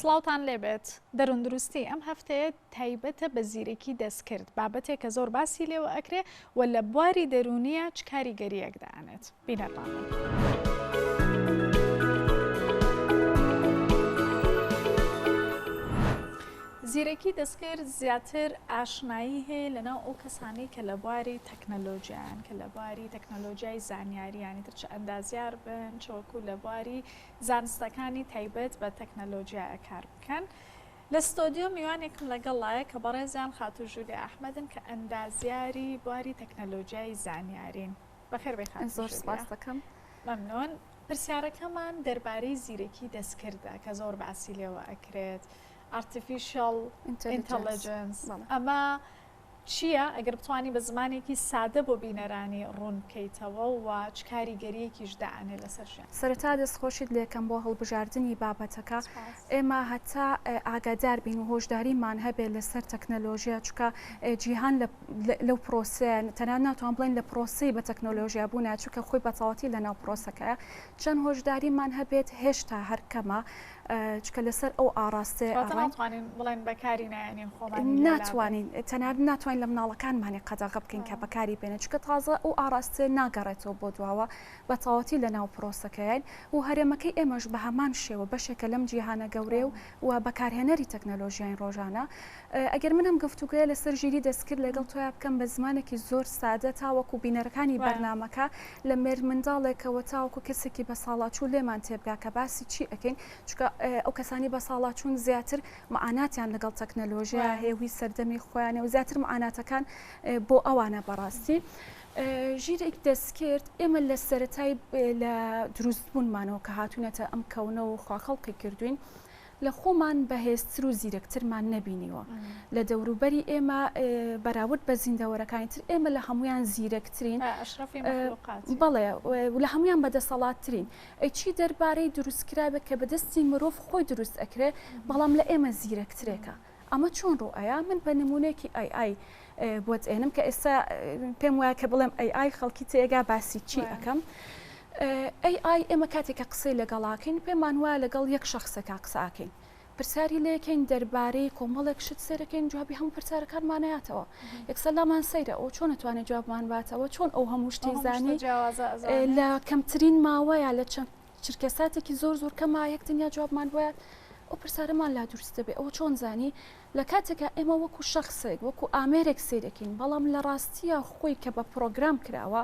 سڵاوتان لێبێت دەروندروستی ئەم هەفتەیە تایبەتە بە زیرەکی دەستکرد بابەتێک کە زۆر باسی لێوە ئەکرێ و لە بواری دەرونیە چ کاریگەریەک دانێت بینەرمان. زیرەکی دەستکرد زیاتر ئاشنایی هەیە لەناو ئەو کەسانی کە لە بواری تەکنەلۆجیایان کە لە بواری تەکنەلۆجیای زانیارییانی تر چ ئەندازیار بن چ وەکوو لە بواری زانستەکانی تایبەت بە تەکنەلۆجیایە کار بکەن. لە ستۆدیۆ میوانێکم لەگەڵایە کە بەڕێزیان خاتوو ژولیە ئەحمەدن کە ئەندازیاری بواری تەکنەلۆجیای زانیارین. بەخێربێی خاتوو ژولیە. زۆر سپاس دەکەم. مەمنون. پرسیارەکەمان دەربارەی زیرەکی دەستکردە کە زۆر باسی لێوە ئەکرێت. ئارتفیشەڵ ئینتەلیجنس. ئەمە چییە؟ ئەگەر بتوانی بە زمانێکی سادە بۆ بینەرانی ڕوون بکەیتەوە و چ کاریگەرییەکیش دائەنێ لەسەر ژیان. سەرەتا دەستخۆشیت لێکەم بۆ هەڵبژاردنی بابەتەکە. سپاس. ئێمە هەتا ئاگادار بین و هۆشداریمان هەبێ لەسەر تەکنەلۆژیا، چونکە جیهان لە لەو پرۆسەیە، تەنانەت ناتوان بڵێین لە پرۆسەی بە تەکنەلۆژیا بوونە، چونکە خۆی بەتەواوەتی لەناو پرۆسەکەیە. چەند هۆشداریمان هەبێت هێشتا هەر کەمە. چکە لەسەر ئەو ئاڕاستەی ناتوانین بڵێن بەکاری نایەنین خۆمان ناتوانین تەنار ناتوانین لە مناڵەکانمانی قەدەغە بکەین کە بەکاری بێنە چکە تازە ئەو ئاراستێ ناگەڕێتەوە بۆ دواوە بە تەواتی لە ناو پرۆسەکەیان و هەرێمەکەی ئێمەش بە هەمان شێوە بەشێکە لەم جیهانە گەورەیە و و بەکارهێنەری تەکنەلۆژیین ڕۆژانە ئەگەر من ئەم گفتوگۆیە لەسەر ژیری دەستکرد لەگەڵ تۆیا بکەم بە زمانێکی زۆر سادە تاوەکو بینەرەکانی بەرنامەکە لە مێردمنداڵێکەوە تاوەکو کەسێکی بەساڵاچوو لێمان تێبگا کە باسی چی ئەکەین چونکە ئەو کەسانەی بەساڵاچوون زیاتر معاناتیان لەگەڵ تەکنەلۆژیایا هەیە هی سەردەمی خۆیانە و زیاتر معاناتەکان بۆ ئەوانە بەڕاستی ژیرێک دەستکرد ئێمە لە سەرەتای لە دروستبوونمانەوە کە هاتوونەتە ئەم کەونە و خواخەڵقی کردوین لە خۆمان بەهێزتر و زیرەکترمان نەبینیوە لە دەوروبەری ئێمە بەراورد بە زیندەوەرەکانی تر ئێمە لە هەمویان زیرەکترین بەڵێ لە هەمویان بەدەسەڵاتترین ئەیچی دەربارەی دروستکراوێک کە بەدەستی مرۆڤ خۆی دروست ئەکرێ بەڵام لە ئێمە زیرەکترێکە ئەمە چۆن ڕوو ئەیا؟ من بە نمونەیەکی ئای ئای بۆت ئێنم کە ئێستا پێم وایە کە بڵێم ئەی ئای خەڵکی تێگا باسی چی ئەەکەم. ئەی ئای ئێمە کاتێکە قسەی لەگەڵاکەین پێمان وایە لەگەڵ یەک شخصێکا قساکەین. پرسیاری لەکەین دەربارەی کۆمەڵێک شت سێرەکەین جوابی هەموو پرسیارەکانمانەیاتەوە یەکسەلامان سەیرە ئەو چۆن نتوانێت جوابمان باتەوە چۆن ئەو هەموو شتی زانانی لە کەمترین ماوەیە لە چەند چرکە ساتێکی زۆر زۆر کەم ماوە یەک تەنیا جوابمان بۆ ئەو پرسارەمان لا دروست دەبێت ئەوە چۆن زانی لە کاتێکا ئێمە وەکو شخصێک وەکو ئامێرێک سیرەکەین بەڵام لە ڕاستیە خۆی کە بە پرۆگرام کراوە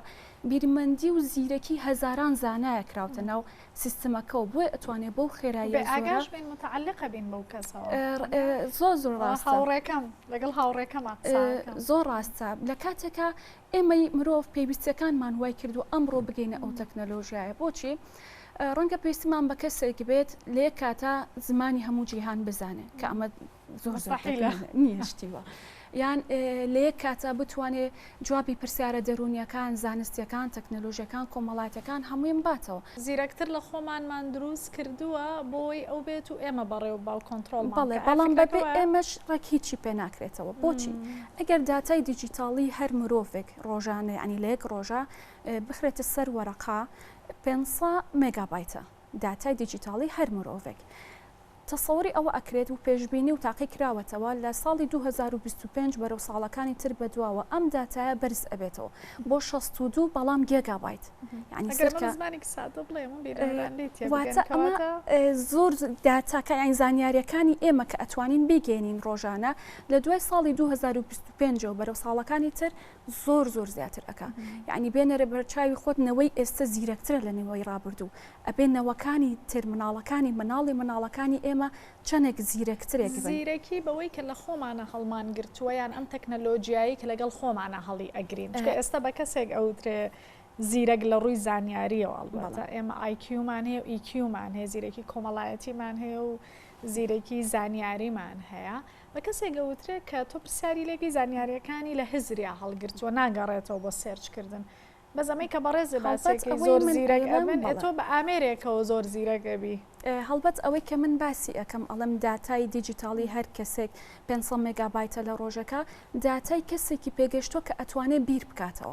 بیرمەندی و زیرەکی هەزاران زانایە کراوتە ناو سیستمەکە و بۆی ئەتوانێت بەو خێرایی ئاگاش بین متعلقە بین بەو کەسەوە زۆر زۆر ڕاستە هاوڕێکەم لەگەڵ هاوڕێکەمە زۆر ڕاستە لە کاتێکا ئێمەی مرۆڤ پێویستیەکانمان وای کردووە ئەمڕۆ بگەینە ئەو تەکنەلۆژیایە بۆچی ڕەنگە پێویستمان بە کەسێک بێت لە یەک کاتە زمانی هەموو جیهان بزانێت کە ئەمە زۆر نیشتیوە یان لە یەک کاتە بتوانێت جوابی پرسیارە دەرونیەکان زانستیەکان تەکنەلۆژیەکان کۆمەڵاتەکان هەموویم باتەوە زیرەکتر لە خۆمانمان دروست کردووە بۆی ئەو بێت و ئێمە بەڕێ و باو کۆنتترۆل بەڵێ بەڵام بەبێ ئێمەش ڕێک هیچی پێ ناکرێتەوە بۆچی ئەگەر داتای دیجیتاڵی هەر مرۆڤێک ڕۆژانە یەعنی لە یەک ڕۆژە بخرێتە سەر وەرەقە پێنج سە مێگابایتە داتای دیجیتاڵی هەر مرۆڤێک تەسەوری ئەوە ئەکرێت و پێشبینی و تاقی کراوەتەوە لە ساڵی 2025 بەرەو ساڵەکانی تر بەدواوە ئەم داتایە بەرز ئەبێتەوە بۆ 62 بەڵام گێگابایت یعنی سەرکە زمانێکی سادە بڵێ من بیرەوەران لێ تێ واتە بگەن کەواتە ئەمە زۆر داتاکە یان زانیاریەکانی ئێمە کە ئەتوانین بیگەینین ڕۆژانە لە دوای ساڵی دوو هەزار و بیست و پێنج ەوە بەرەو ساڵەکانی تر زۆر زۆر زیاتر ئەکا یعنی بێنەرە بەرچاوی خۆت نەوەی ئێستە زیرەکترە لە نەوەی ڕابردوو ئەبێ نەوەکانی تر مناڵەکانی مناڵی مناڵەکانی ئێمە چەنێک زیرەکترێک بن. زیرەکی بەوەی کە لە خۆمانە هەڵمان گرتووە یان ئەم تەکنەلۆجیایەی کە لەگەڵ خۆمانە هەڵی ئەگرین چونکە ئێستە بە کەسێک ئەوترێ زیرەک لە ڕووی زانیاریەوە ئەڵبەتە ئێمە ئای کیومان هەیە و ئی کیومان هەیە زیرەکی کۆمەڵایەتیمان هەیە و زیرەکی زانیاریمان هەیە بە کەسێک ئەوترێ کە تۆ پرسیاری لێکی زانیاریەکانی لە هزریا هەڵگرتووە ناگەڕێتەوە بۆ سێرچ کردن بەس ئەمەی کە بەڕێزێ باسێکی زۆر زیرەک ئەبن تۆ بە ئامێرێکەوە زۆر زیرەک ئەبی هەڵبەت ئەوەی کە من باسی ئەەکەم ئەڵم داتای دیجیتاڵی هەر کەسێک 500 مێگابایتە لە ڕۆژەکە داتای کەسێکی پێگەشتوە کە ئەتوانێت بیر بکاتەوە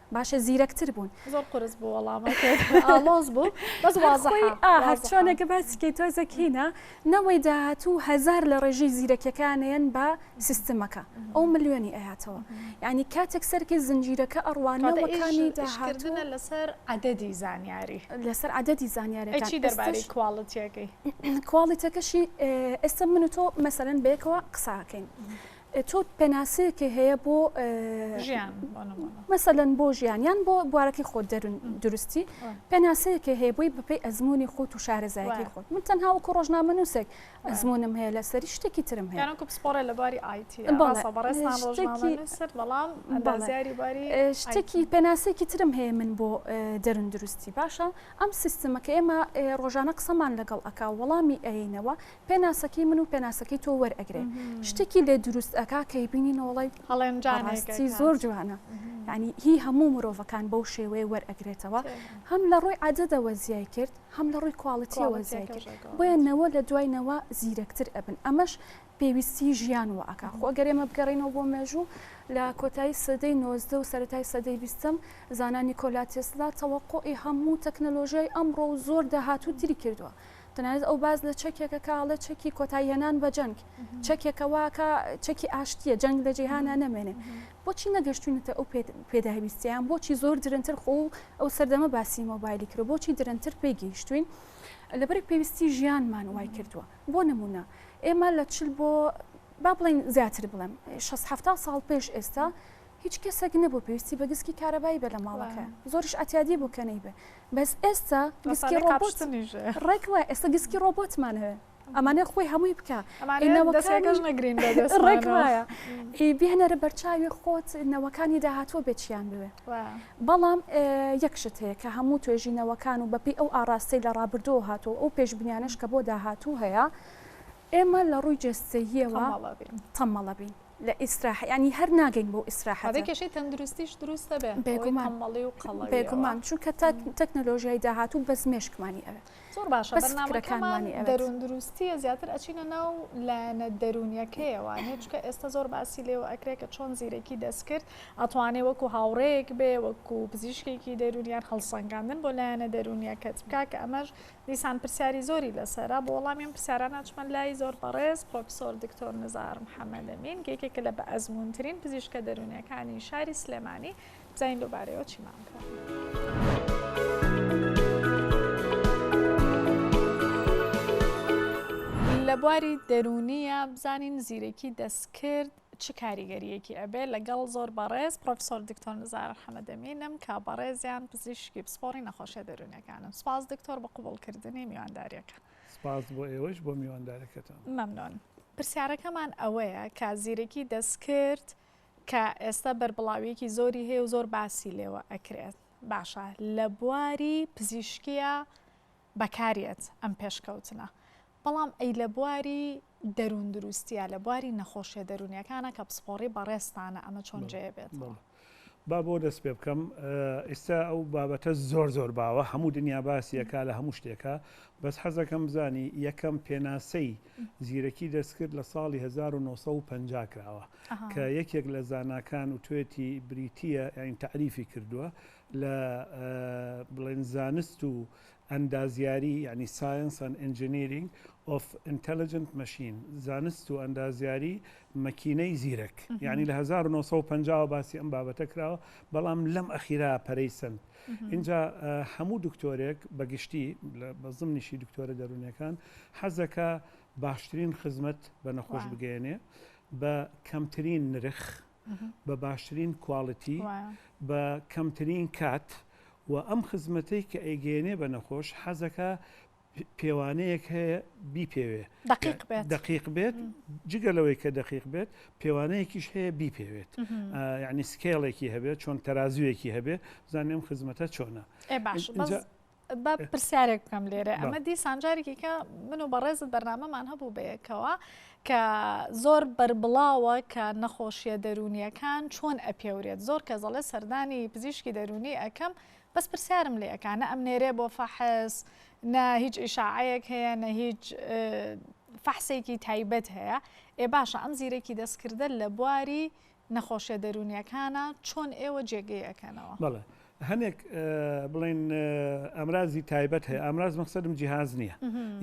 باشە زیرەکتر بوون زۆر قرس بوو وەڵامەڵۆز بوو بەس هەرچۆنێکە باسکەی تۆ زەکینە نەوەی داهاتوو هزار لە ڕێژی زیرەکیەکانیان بە سیستمەکە ئەو ملیۆنی ئەهاتەوە ینی کاتێک سەرکی زنجیرەکە ئەڕوانەوەکانی داهاتوە لەسەر عددی زانیاری لەسەر عددی زانیارەکەی دەرباری کوواڵەتەکەی کوواڵەتەکەشی ئێستا من و تۆ مەسەرەن بێکەوە قساکەین. تۆ پێناسەیەکێ هەیە بۆ ژیان مەسەلەن بۆ ژیان یان بۆ بوارەکەی خۆت دەرون درستی پێناسەیەکێ هەیە بۆی بپی ئەزمموی خۆت و شارەزایەکەی خۆت من تەنها وەکو ڕۆژنامە نووسێک ئەزمونم هەیە لە سەری شتێکی ترم هەیە پسپۆرە لە باری ئایتی بەڵام بازاری باری شتێکی پێناسێکی ترم هەیە من بۆ دەرون درستی باشە ئەم سیستمەکە ئێمە ڕۆژانە قسەمان لەگەڵ ئەکا وەڵامی ئەینەوە پێناسەکەی من و پێناسەکەی تۆ وەرئەگرێ شتێکی لێ دروست ئەکا کەی بینی نۆڵی هەڵێنجانسی زۆر جوانە ینی هی هەموو مرۆڤەکان بەو شێوەیە وەرئەگرێتەوە هەم لە ڕووی عادەدەوە زیای کرد هەم لە ڕووی کوالڵەتیەوە زیای کرد بۆیە نەوە لە دواینەوە زیرەکتر ئەبن ئەمەش پێویستی ژیان و ئەکا خۆ گەرێمە بگەڕینەوە بۆ مێژوو لە کۆتایی سەدەی نۆزدە و سەتای سەدەی بیستم زانانی کۆلاتێسلا تەوەقۆی هەموو تەکنەلۆژیای ئەمڕۆ و زۆر داهات و تری کردووە تەنانەت ئەو باس لە چەکێکە کە ئەڵێ چەکی کۆتایهێنان بە جەنگ چەکێکە واکە چەکی ئاشتیە جەنگ لە جیهانە نەمێنێ بۆچی نەگەشتونەتە ئەو پێداویستیان بۆچی زۆر درنتر خۆ ئەو سەردەمە باسی مۆبایلی کرد بۆچی درنتر پێی گەیشتوین لەبەرێک پێویستی ژیانمان وای کردووە بۆ نمونە ئێمە لە چل بۆ با بڵین زیاتر بڵێم 6 ساڵ پێش ئێستا هیچ کەسێک نەبوو پێویستی بە گسکی کارەبایی بە لە ماڵەکە زۆرش ئەتیادی بوو کە نەیبێ بەس ئێستا گسکی ڕۆبۆت ڕێک وایە ئێستا گسکی ڕۆبۆتمان هەیە ئەمانە خۆی هەمووی بکە ڕێک وایە بهێنەرە بەرچاوی خۆت نەوەکانی داهاتوە بێچیان بوێ بەڵام یەکشت هەیە کە هەموو توێژینەوەکان و بەپی ئەو ئاراستەی لە ڕابردۆ هاتوو ئەو پێشبنیانش کە بۆ داهاتوو هەیە ئێمە لە ڕووی جەستەییەوە تەمەڵە بین، تەمەڵە بین لە ئیستراحە یانی هەر ناگەین بۆ ئیستراحەت، ئەبێ کێشەی تەندروستیش دروست نەبێ بێگومان تەمەڵی و قەڵەویەوە بێگومان چونکە تا تەکنەلۆژیای داهاتوو بەس مێشکمانی ئەوێ زۆر باشە بەس فکرەکانمان ئەوێت. بەرنامەکەمان دەروون دروستییە زیاتر ئەچینە ناو لایەنە دەروونیەکەیەوە نێ چونکە ئێستا زۆر باسی لێوە ئەکرێ کە چۆن زیرەکی دەستکرد ئەتوانێ وەکوو هاوڕێیەک بێ وەکوو پزیشکێکی دەروون یان هەڵسەنگاندن بۆ لایەنە دەروونیەکەت بکا کە ئەمەش دیسان پرسیاری زۆری لەسەرە، بۆ وەڵامی ئەم پرسیارانە ئەچمە لای زۆر بەڕێز پڕۆفیسۆر دکتۆر نزار محەمەد ئەمین کە یەکێکە لە بەئەزموونترین پزیشکە دەروونییەکانی شاری سلێمانی، بزانین لەو بارەیەوە چیمان فەرمووە. لە بواری دەروونییە بزانین زیرەکی دەستکرد چ کاریگەریەکی ئەبێ لەگەڵ زۆر بەڕێز پرۆفسۆر دکتۆر نزار حەمەدەمینم کە بەڕێزیان پزیشکی پسپۆڕی نەخۆشیە دەروونەکانن سپاس دکتۆر بە قوبڵکردنی میوانداریەکە سپاس بۆ ئێوەش بۆ میواندارەکەتان مەمنۆن پرسیارەکەمان ئەوەیە کە زیرەکی دەستکرد کە ئێستا بەربڵاویەکی زۆری هەیە و زۆر باسی لێوە ئەکرێت باشە لە بواری پزیشکیە بەکارێت ئەم پێشکەوتنە بەڵام ئەی لە بواری دەروون دروستیە لە بواری نەخۆشیە دەروونیەکانە کە پسپۆڕی بەڕێزتانە ئەمە چۆن جێ بێتەوە. با بۆ دەست پێ بکەم ئیستا ئەو بابەتە زۆر زۆر باوە هەموو دنیا باسیەکە لە هەموو شتێکە بەس حەزەکەم بزانی یەکەم پێناسەی زیرەکی دەستکرد لە ساڵی 1950 کراوە کە یەکێک لە زاناکان و توێتی بریتە ئەین تعریفی کردووە لە بڵێن زانست و ئەندازیاری یانی Science and Engineering of Intelligent Machine زانست و ئەندازیاری مەکینەی زیرەک یانی لە هەزار و نۆ سەد و پەنجا وە باسی ئەم بابەتە کراوە بەڵام لەم ئەخیرا پەرەی سەند ئینجا هەموو دکتۆرێک بەگشتی بە زمنیشی دکتۆرە دەروونەکان حەزەکە باشترین خزمەت بە نەخۆش بگەیەنێ بە کەمترین نرخ بە باشترین کواڵیتی بە کەمترین کات و ئەم خزمەتەی کە ئەیگەێنێ بە نەخۆش حەزەکە پێوانەیەک هەیە بیپێوێ دقیق بێت جگە لەوەی کە دقیق بێت پێوانەیەکیش هەیە بیپێوێت یعنی سکێڵێکی هەبێت چۆن تەازویەکی هەبێت زانێم خزمەتە چۆنە با پرسیارێک بکەم لێرە ئەمە دیسان جارێکی کە من و بەڕێزت بەرنامەمان هەبوو بەیەکەوە کە زۆر بربڵاوە کە نەخۆشیە دەرونیەکان چۆن ئەپێورێت زۆر کە زەڵێ سەردانی پزیشکی دەرونی ئەەکەم بەس پرسیارم لە ئەەکانە ئەم نێرێ بۆ فەحس نە هیچ ئیشاعەیەک هەیە نە هیچ فەحسێکی تایبەت هەیە ئێ باشە ئەم زیرەکی دەستکردە لە بواری نەخۆشیە دەروونیەکانە چۆن ئێوە جێگەی ئەکەنەوە؟ بەڵێ هەنێک بڵێن ئەمرازی تایبەت هەیە ئامراز مەخسەدم جیهاز نییە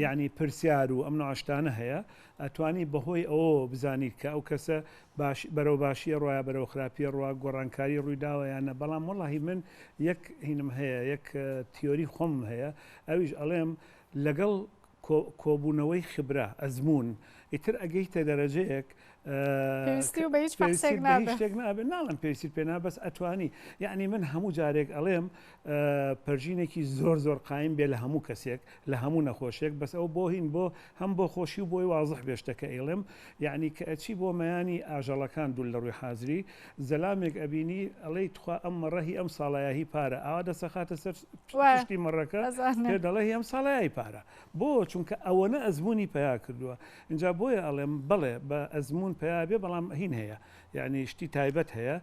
یعنی پرسیار و ئەم ناشتانە هەیە ئەتوانی بەهۆی ئەو بزانی کە ئەو کەسە باش بەرەو باشیە ڕایە بەرەو خراپیە ڕوا گۆڕانکاری ڕوویداوەیانە بەڵام وڵی من یەک هینم هەیە یەک تیۆری خۆم هەیە ئەویش ئەڵێم لەگەڵ کۆ کۆبونەوەی خبرە، ئەزمون، ئیتر ئەگەیتە دەرەجەیەک پێویستی بە هیچ پێویستیت بە هیچ شتێک نابێت ناڵێم پێویستیت پێ نابێت بەس ئەتوانی یعنی من هەموو جارێک ئەڵێم پەرژینێکی زۆر زۆر قایم بێ لە هەموو کەسێک لە هەموو نەخۆشێک بەس ئەو بۆ هین بۆ هەم بۆ خۆشی و بۆی وازح بێشتەکە ئەیڵێم یعنی کە ئەچی بۆ مەیانی ئاژەڵەکان دوول لە ڕووی حازری زەلامێک ئەبینی ئەڵێی تخوا ئەم مەڕەهی ئەم ساڵایەهی پارە ئاوا دەسەخاتە سەر پشتی مەڕەکە پێ دەڵێ هی ئەم ساڵای پارە بۆ چونکە ئەوەنە ئەزمموی پیا کردووە اینجا بۆیە ئەڵێم بڵێ بە ئەزممون پیا بێ بەڵام هین هەیە یعنی شتی تایبەت هەیە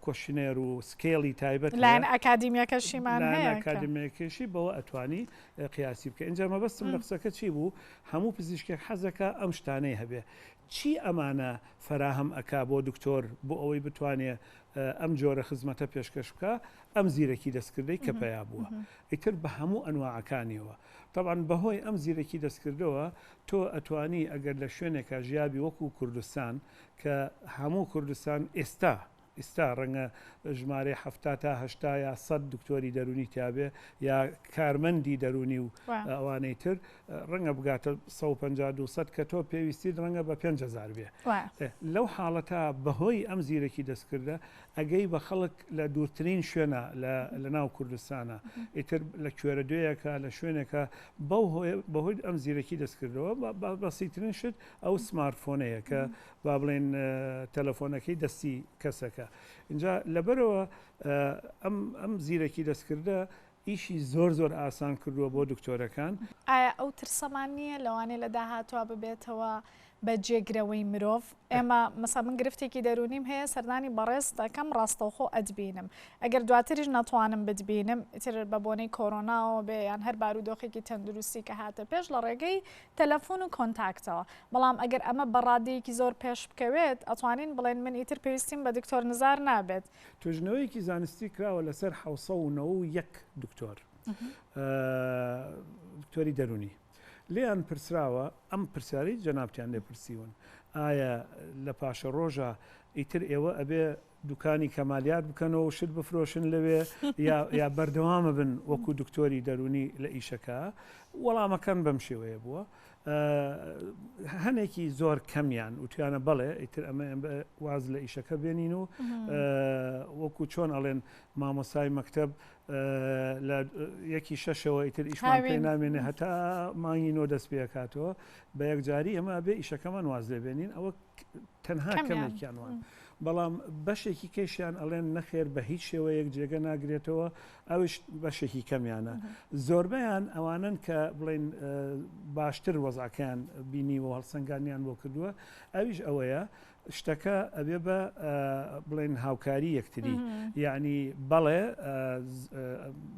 کۆشنێر و سکێڵی تایبەت لایەن ئەکادیمیەکەشیمان ئەکادیمێکیشی بەوە ئەتوانی قیاسی بکە اینجا مەبەستم لە قسەکە چی بوو هەموو پزیشکێک حەزەکە ئەم شتانەی هەبێ چی ئەمانە فراهەم ئەک بۆ دکتۆر بۆ ئەوەی بتوانێت ئەم جۆرە خزمەتە پێشکەش بکا ئەم زیرەکی دەستکردەی کە پەیا بووە ئیتر بە هەموو ئەنواعەکانیەوە تەبان بەهۆی ئەم زیرەکی دەستکردەوە تۆ ئەتوانی ئەگەر لە شوێنێکا ژیابی وەکو کوردستان کە هەموو کوردستان ئێستا ئیستا ڕەنگە ژمارەی هەفتا تا هەشتا یا سەد دکتۆری دەرونی تیاێ یا کارمەندی دەرونی و ئەوانەی تر ڕەنگە بگاتە سەد و پەنجا دوو سەد کە تۆ پێویستیت ڕەنگە بە پێنج هەزار بێ وایە ئێ، لەو حاڵەتە بەهۆی ئەم زیرەکی دەستکردە ئەگەی بە خەڵک لە دوورترین شوێنە لە لە ناو کوردستانە ئیتر لە کوێرە دوێیەکە لە شوێنێکە بەو هۆیە بەهۆی ئەم زیرەکی دەستکردەوە بە بە بەسیترین شت ئەو سمارت فۆنەیە کە با بڵێن ە، تەلەفۆنەکەی دەستی کەسەکە ئینجا لەبەرەوە ە، ئەم ئەم زیرەکی دەستکردە ئیشی زۆر زۆر ئاسان کردووە بۆ دکتۆرەکان. ئایا ئەو ترسەمان نییە لەوانەیە لە داهاتوا ببێتەوە بە جێگرەوەی مرۆڤ؟ ئێمە مەسەڵەن من گرفتێکی دەروونیم هەیە سەردانی بەڕێز دەکەم ڕاستەوخۆ ئەتبینم ئەگەر دواتریش نەتوانم بتبینم ئیتر بە بۆنەی کۆرۆناوە بێ یان هەر بارودۆخێکی تەندروستی کە هاتە پێش لە ڕێگەی تەلەفون و کۆنتاکتەوە بەڵام ئەگەر ئەمە بە ڕادەیەکی زۆر پێش بکەوێت ئەتوانین بڵێن من ئیتر پێویستیم بە دکتۆر نزار نابێت توێژنەوەیەکی زانستی کراوە لەسەر حەوت سەد و نەوە و یەک دکتۆر دکتۆری دەرونی لێیان پرسراوە ئەم پرسیارەی جەنابتیان لێ پرسیون ئایا لە پاشە ڕۆژە ئیتر ئێوە ئەبێ دوکانی کەمالیات بکەنەوە شت بفرۆشن لەوێ یا بەردەوامە بن وەکو دکتۆری دەرونی لە ئیشەکە وەڵامەکەن بەم شێوەیە بووە هەنێکی زۆر کەمیان وتویانە بەڵێ ئیتر ئەمە واز لە ئیشەکە بێنین و وەکو چۆن ئەڵێن مامۆسای مەکتب لە یەکی شەشەوە ئیتر ئیشمان پێ نامێنێ هەتا مانگی نۆ دەست پێکاتەوە بە یەکجاری ئەمە بێ ئیشەکەمان واز لێبێنین ئەوە تەنها کەمێکیان وان بەڵام بەشێکی کەشیان ئەڵێن نەخێر بە هیچ شێوەیەک جێگە ناگرێتەوە ئەوش بەشێکی کەمیانە زۆربیان ئەوانن کە بڵین باشتر وەزاکەیان بینی و هەڵسەنگانیان بۆ کردووە ئەویش ئەوەیە شتەکە ئەبێ بە بڵێن هاوکاری یەکتری یعنی بەڵێ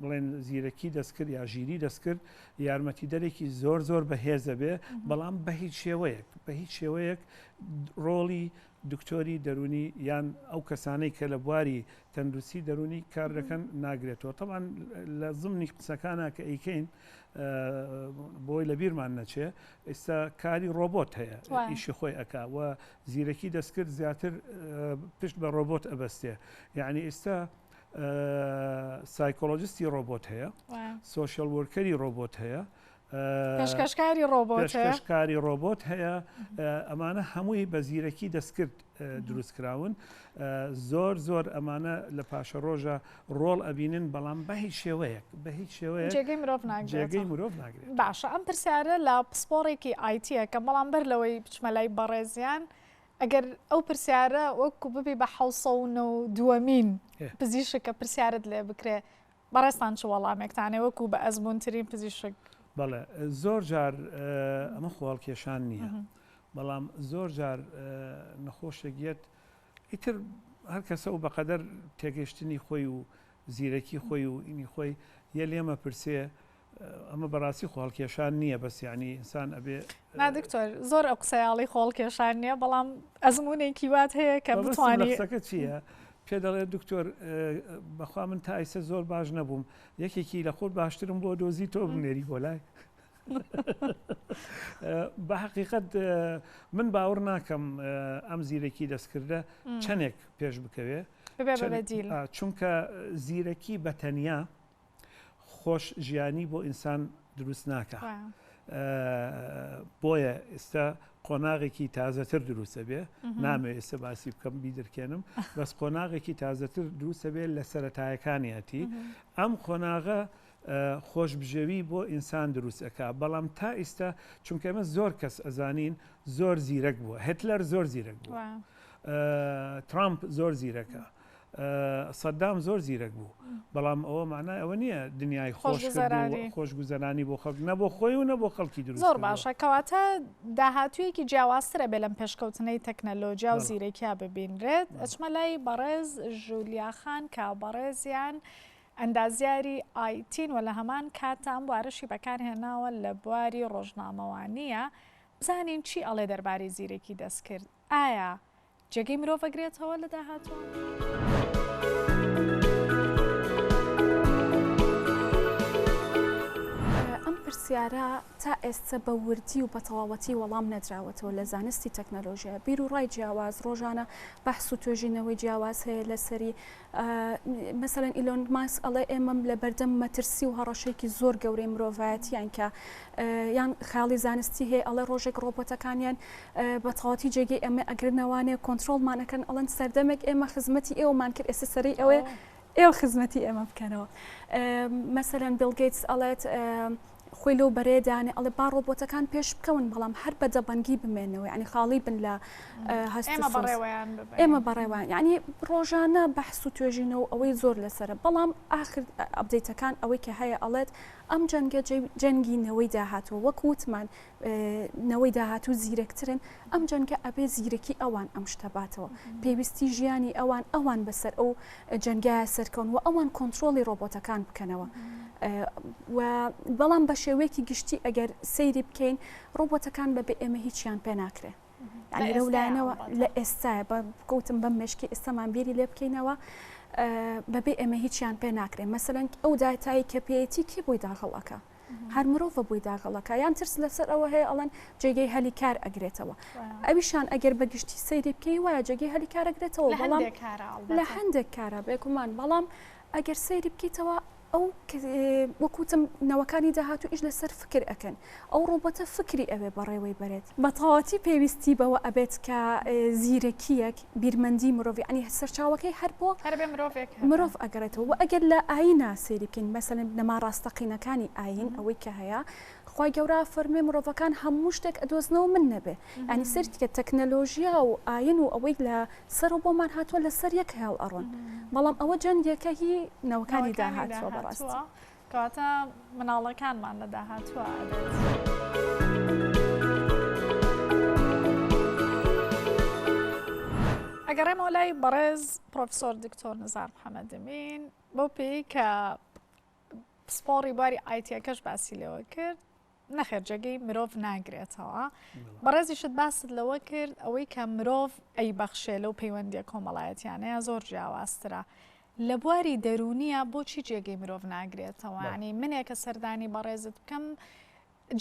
بڵێن زیرەکی دەستکرد یا ژیری دەستکرد یارمەتیدەرێکی زۆر زۆر بەهێزە بێ بەڵام بە هیچ شێوەیەک بە هیچ شێوەیەک ڕۆڵی دکتۆری دەرونی یان ئەو کەسانەی کە لە بواری تەندروستی دەرونی کار دەکەن ناگرێتەوە تەمان لە زمنی قسەکانە کە ئەیکەین بۆی لە بیرمان نەچێ ئێستا کاری ڕۆبۆت هەیە ئیشی خۆی ئەک و زیرەکی دەستکرد زیاتر پشت بە ڕۆبۆت ئەبەستێ یعنی ئێستا سایکۆلۆجستی ڕۆبۆت هەیە سوۆشل وەرکەری ڕۆبۆت هەیە پێشکەشکاری ڕۆبۆتشکاری ڕۆبۆت هەیە ئەمانە هەمووی بە زیرەکی دەستکرد دروستکراون زۆر زۆر ئەمانە لە پاشە ڕۆژە ڕۆڵ ئەبینن بەڵام بە هیچ شێوەیەک بە هیچ شێوەیە جێگەی مرۆڤ ناگرێگەی مرۆڤ ناگرێت باشە ئەم پرسیارە لە پسپۆڕێکی ئایتیەکە بەڵام بەر لەوەی بچمە لای بەڕێزیان ئەگەر ئەو پرسیارە وەکو ببی بە حەوت سەد و نەوەد و دووەمین پزیشک کە پرسیارت لێ بکرێ بەڕێزتان چ وەڵامێکتانێ وەکو بە ئەزموونترین پزیشک؟ بەڵێ زۆر جار ئەمە خۆ هەڵکێشان نییە بەڵام زۆر جار نەخۆشێک یەت ئیتر هەر کەسە و بەقەدەر تێگەشتنی خۆی و زیرەکی خۆی و ئینی خۆی یە لێمە پرسێ ئەمە بەڕاستی خۆڵکێشان نییە بەس یعنی ئینسان ئەبێ دکتۆر زۆر ئەو قسەیاڵی خۆڵکێشان نییە بەڵام ئەزمونێکی وات هەیە کە بتوانیسەکە چییە؟ پێ دەڵێت دکتۆر بەخوا من تا ئیسە زۆر باش نەبووم یەکێکی لە خۆت باشترم بۆ دۆزی تۆ بنێری بۆ لای بە حقیقت من باوەڕ ناکەم ئەم زیرەکی دەستکردە چەندێک پێش بکەوێ چونکە زیرەکی بەتەنیا خۆش ژیانی بۆ ئینسان دروست ناکا بۆیە ئێستا قۆناغێکی تازەتر دروستە بێ نامێ ئێستا باسی بکەم بیدرکێنم بەس قۆناغێکی تازەتر دروستە بێت لە سەتایەکانیەتی ئەم قۆناغە خۆش بژێوی بۆ ئینسان دروستەکە بەڵام تا ئیستا چونکە ئمە زۆر کەس ئەزانین زۆر زیرەک بووە هتلەر زۆر زیرەک بووە ترامپ زۆر زیرەکە سەدام زۆر زیرەک بوو بەڵام ئەوە مانای ئەوە نییە دنیای خۆش خۆشگوزەرانی بۆ خەڵک نە بۆ خۆی و نە بۆ خەڵکی دروست زۆر باشە کەواتە داهاتوویەکی جیاوازترە بێ لەم پێشکەوتنەی تەکنەلۆجیا و زیرەکیا ببینرێت ئەچمە لای بەڕێز ژولیاخان کا بەڕێزیان ئەندازیاری ئایتین و لە هەمان کاتام وارشی بەکارهێناوە لە بواری ڕۆژنامەوانیە بزانین چی ئەڵێ دەربارەی زیرەکی دەستکرد ئایا جێگەی مرۆڤ ئەگرێتەوە لە داهاتووە؟ ئەم پرسیارە تا ئێستە بە وردی و بەتەواوەتی وەڵام نەدراوەتەوە لە زانستی تەکنەلۆژیا، بیروڕای جیاواز، ڕۆژانە بەحس و توێژینەوەی جیاواز هەیە لەسەری، مەسەلەن ئیلۆن ماسک ئەڵێ ئێمە لە بەردەم مەترسی و هەڕەشێکی زۆر گەورەی مرۆڤایەتیان کە یان خاڵی زانستی هەیە ئەڵێ ڕۆژێک ڕۆبۆتەکانیان بە تەواتی جێگەی ئەمە ئەگرنەوانێ کۆنتترۆلمانەکەن ئەڵەن سەردەمێک ئێمە خزمەتی ئێوەمان کرد ئێستا سەری ئەوێ ئێوە خزمەتی ئێمە بکەنەوە مەسەرەن بلگەیتس ئەڵێت خۆی لەو بەرەیە دانێ ئەڵێ با ڕۆبۆتەکان پێش بکەون بەڵام هەر بە دەبەنگی بمێنەوە ینی خاڵی بن لە هەست ئێمە بەڕێوەیان ینی ڕۆژانە بەحس و توێژینەوە ئەوەی زۆر لەسرە بەڵام ئاخر ئەبدەیتەکان ئەوەی کە هەیە ئەڵێت ئەم جەنگە جەنگی نەوەی داهاتوە وەکووتمان نەوەی داهاتوو زیرەکترن ئەم جەنگە ئەبێ زیرەکی ئەوان ئەم شتە باتەوە پێویستی ژیانی ئەوان ئەوان بەسەر ئەو جەنگایە سەرکەون و ئەوان کۆنتترۆلی ڕۆبۆتەکان بکەنەوە بەڵام بە شێوەیەکی گشتی ئەگەر سەیری بکەین ڕۆبۆتەکان بە بێ ئێمە هیچیان پێ ناکرێت یعنی لەو لایەنەوە لە ئێستای بە بکەوتم بەم مشکی ئێستامان بیری لێ بکەینەوە بەبێ ئێمە هیچیان پێ ناکرێن مەسەرەنگ ئەو دااتایی کە پێەتی کێ بۆی داخڵەکە هەر مرۆڤە بۆی داغەڵەکە یان ترس لەسەر ئەوە هەیە ئەڵەن جێگەی هەلی کار ئەگرێتەوە ئەویشان ئەگەر بەگشتی سەیری بکەی وایە جێگەی هەلی کارەگرێتەوە بەڵام لە هەندێک کارە بێکومان بەڵام ئەگەر سەیری بکەیتەوە ئەو وەکوتم نەوەکانی داهاتوو ئیش لەسەر فکر ئەکەن ئەو ڕوبەتە فکری ئەوێ بەڕێوەی بەرێت بەتەواتی پێویستی بەوە ئەبێت کە زیرەکیەک بیرمەندی مرۆڤ یەعنی سەرچاوەکەی هەر بۆ هەر بێ مرۆڤێک هەبێ. مرۆڤ ئەگەڕێتەوە وە ئەگەر لە ئاینا سەیری بکەین مەسەلەن بنەما ڕاستەقینەکانی ئاین ئەوەی کە هەیە خوای گەورە ئەفەرموێ مرۆڤەکان هەموو شتێک ئەدۆزنەوە من نەبێ یەعنی سەیرت بکە تەکنەلۆژیا و ئاین و ئەوەی لە سەرەوە بۆمان هاتووە لەسەر یەک هێڵ ئەڕۆن بەڵام ئەوە جەنگێکە هی نەوەکانی داهاتووە بەڕاستی. کەواتە مناڵەکانمان لە داهاتووە ئەگەڕێمەوە لای بەڕێز پرۆفسۆر دکتۆر نزار محەممەدمین بۆ پێی کە پسپۆڕی باری ئایتیەکەش باسی لەوە کرد نەخێر جێگەی مرۆڤ ناگرێتەوە بەڕێزیشت باست لەوە کرد ئەوەی کە مرۆڤ ئەی بەخشێ لەو پەیوەندیە کۆمەڵایەتیانەیە زۆر جیاوازترە. لە بواری دەرونیە بۆچی جێگەی مرۆڤ ناگرێتەوەانی منێکە سەردانی بەڕێزت بکەم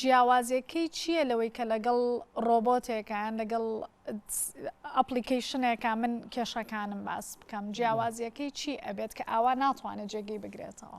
جیاوازەکەی چییە لەوەی کە لەگەڵ ڕۆبۆتێکیان لەگەڵ ئەپلیکیشنێکە من کێشەکانم باس بکەم جیاوازیەکەی چی ئەبێت کە ئاوا ناتوانێت جێگەی بگرێتەوە.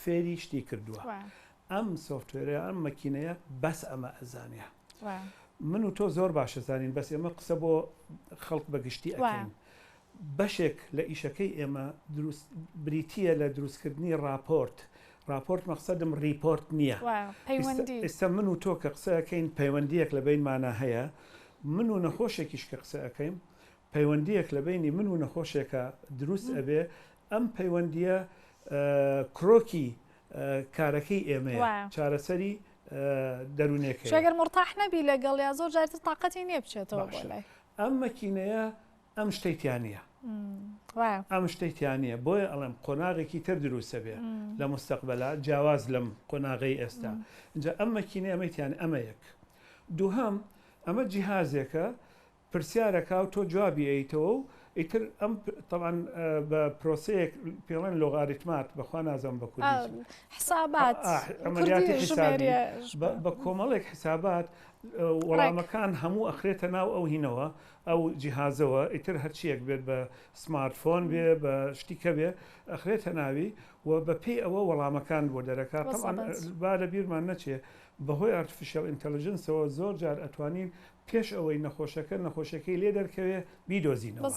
فێری شتی کردووە ئەم سۆفتوێرە ئەم مەکینەیە بەس ئەمە ئەزانێ من و تۆ زۆر باشە زانین بەس ئێمە قسە بۆ خەڵک بەگشتی ئەکەین بەشێک لە ئیشەکەی ئێمە بریتە لە دروستکردنی راپۆرت راپۆرت مەخصدم ریپۆرت نییە ئێستا من و تۆ کە قسەکەین پەیوەندیەک لە بینمانە هەیە من و نەخۆشێکیش کە قسەکەیم پەیوەندیەک لە بینی من و نەخۆشێکە دروست ئەبێ ئەم پەیوەندییە کرۆکی کارەکەی ئێمەیە، چارەسەری دەروونێکەیە. ئەگەر مورتاح نەبی لەگەڵیا زۆر جار تر تاقەتی نییە بچێتەوە بۆ لای. ئەم مەکینەیە ئەم شتەی تیا نییە. وایە. ئەم شتەی تیا نییە. بۆیە ئەڵێم قۆناغێکی تر دروست دەبێ لە موستەقبەلا جیاواز لەم قۆناغەی ئێستا. ئینجا ئەم مەکینەیە ئەمەی تیا نییە. ئەمە یەک. دووهەم، ئەمە جیهازێکە پرسیارەکاو تۆ جوابی ئەیتەوە و ئیتر ئەم تەبعەن بە پرۆسەیەک پێڵێن لۆغاریتمات بەخوا نازانم بە کوردی چ بێ حسابات ئا ئا عملیاتی کوردی حسابی ژمێریە بە بە کۆمەڵێک حسابات ڕێک. وەڵامەکان هەموو ئەخرێتە ناو ئەو هینەوە ئەو جیهازەوە ئیتر هەرچیەک بێت بە سمارت فۆن بێ بە شتی کە بێ ئەخرێتە ناوی و بە پێی ئەوە وەڵامەکان بۆ دەرەکا تەبعەن وەسەبەت. با لە بیرمان نەچێ بە هۆی ئارتفیشەڵ ئینتەڵجنسەوە زۆر جار ئەتوانین پێش ئەوەی نەخۆشەکە نەخۆشیەکەی لێ دەرکەوێ بیدۆزینەوە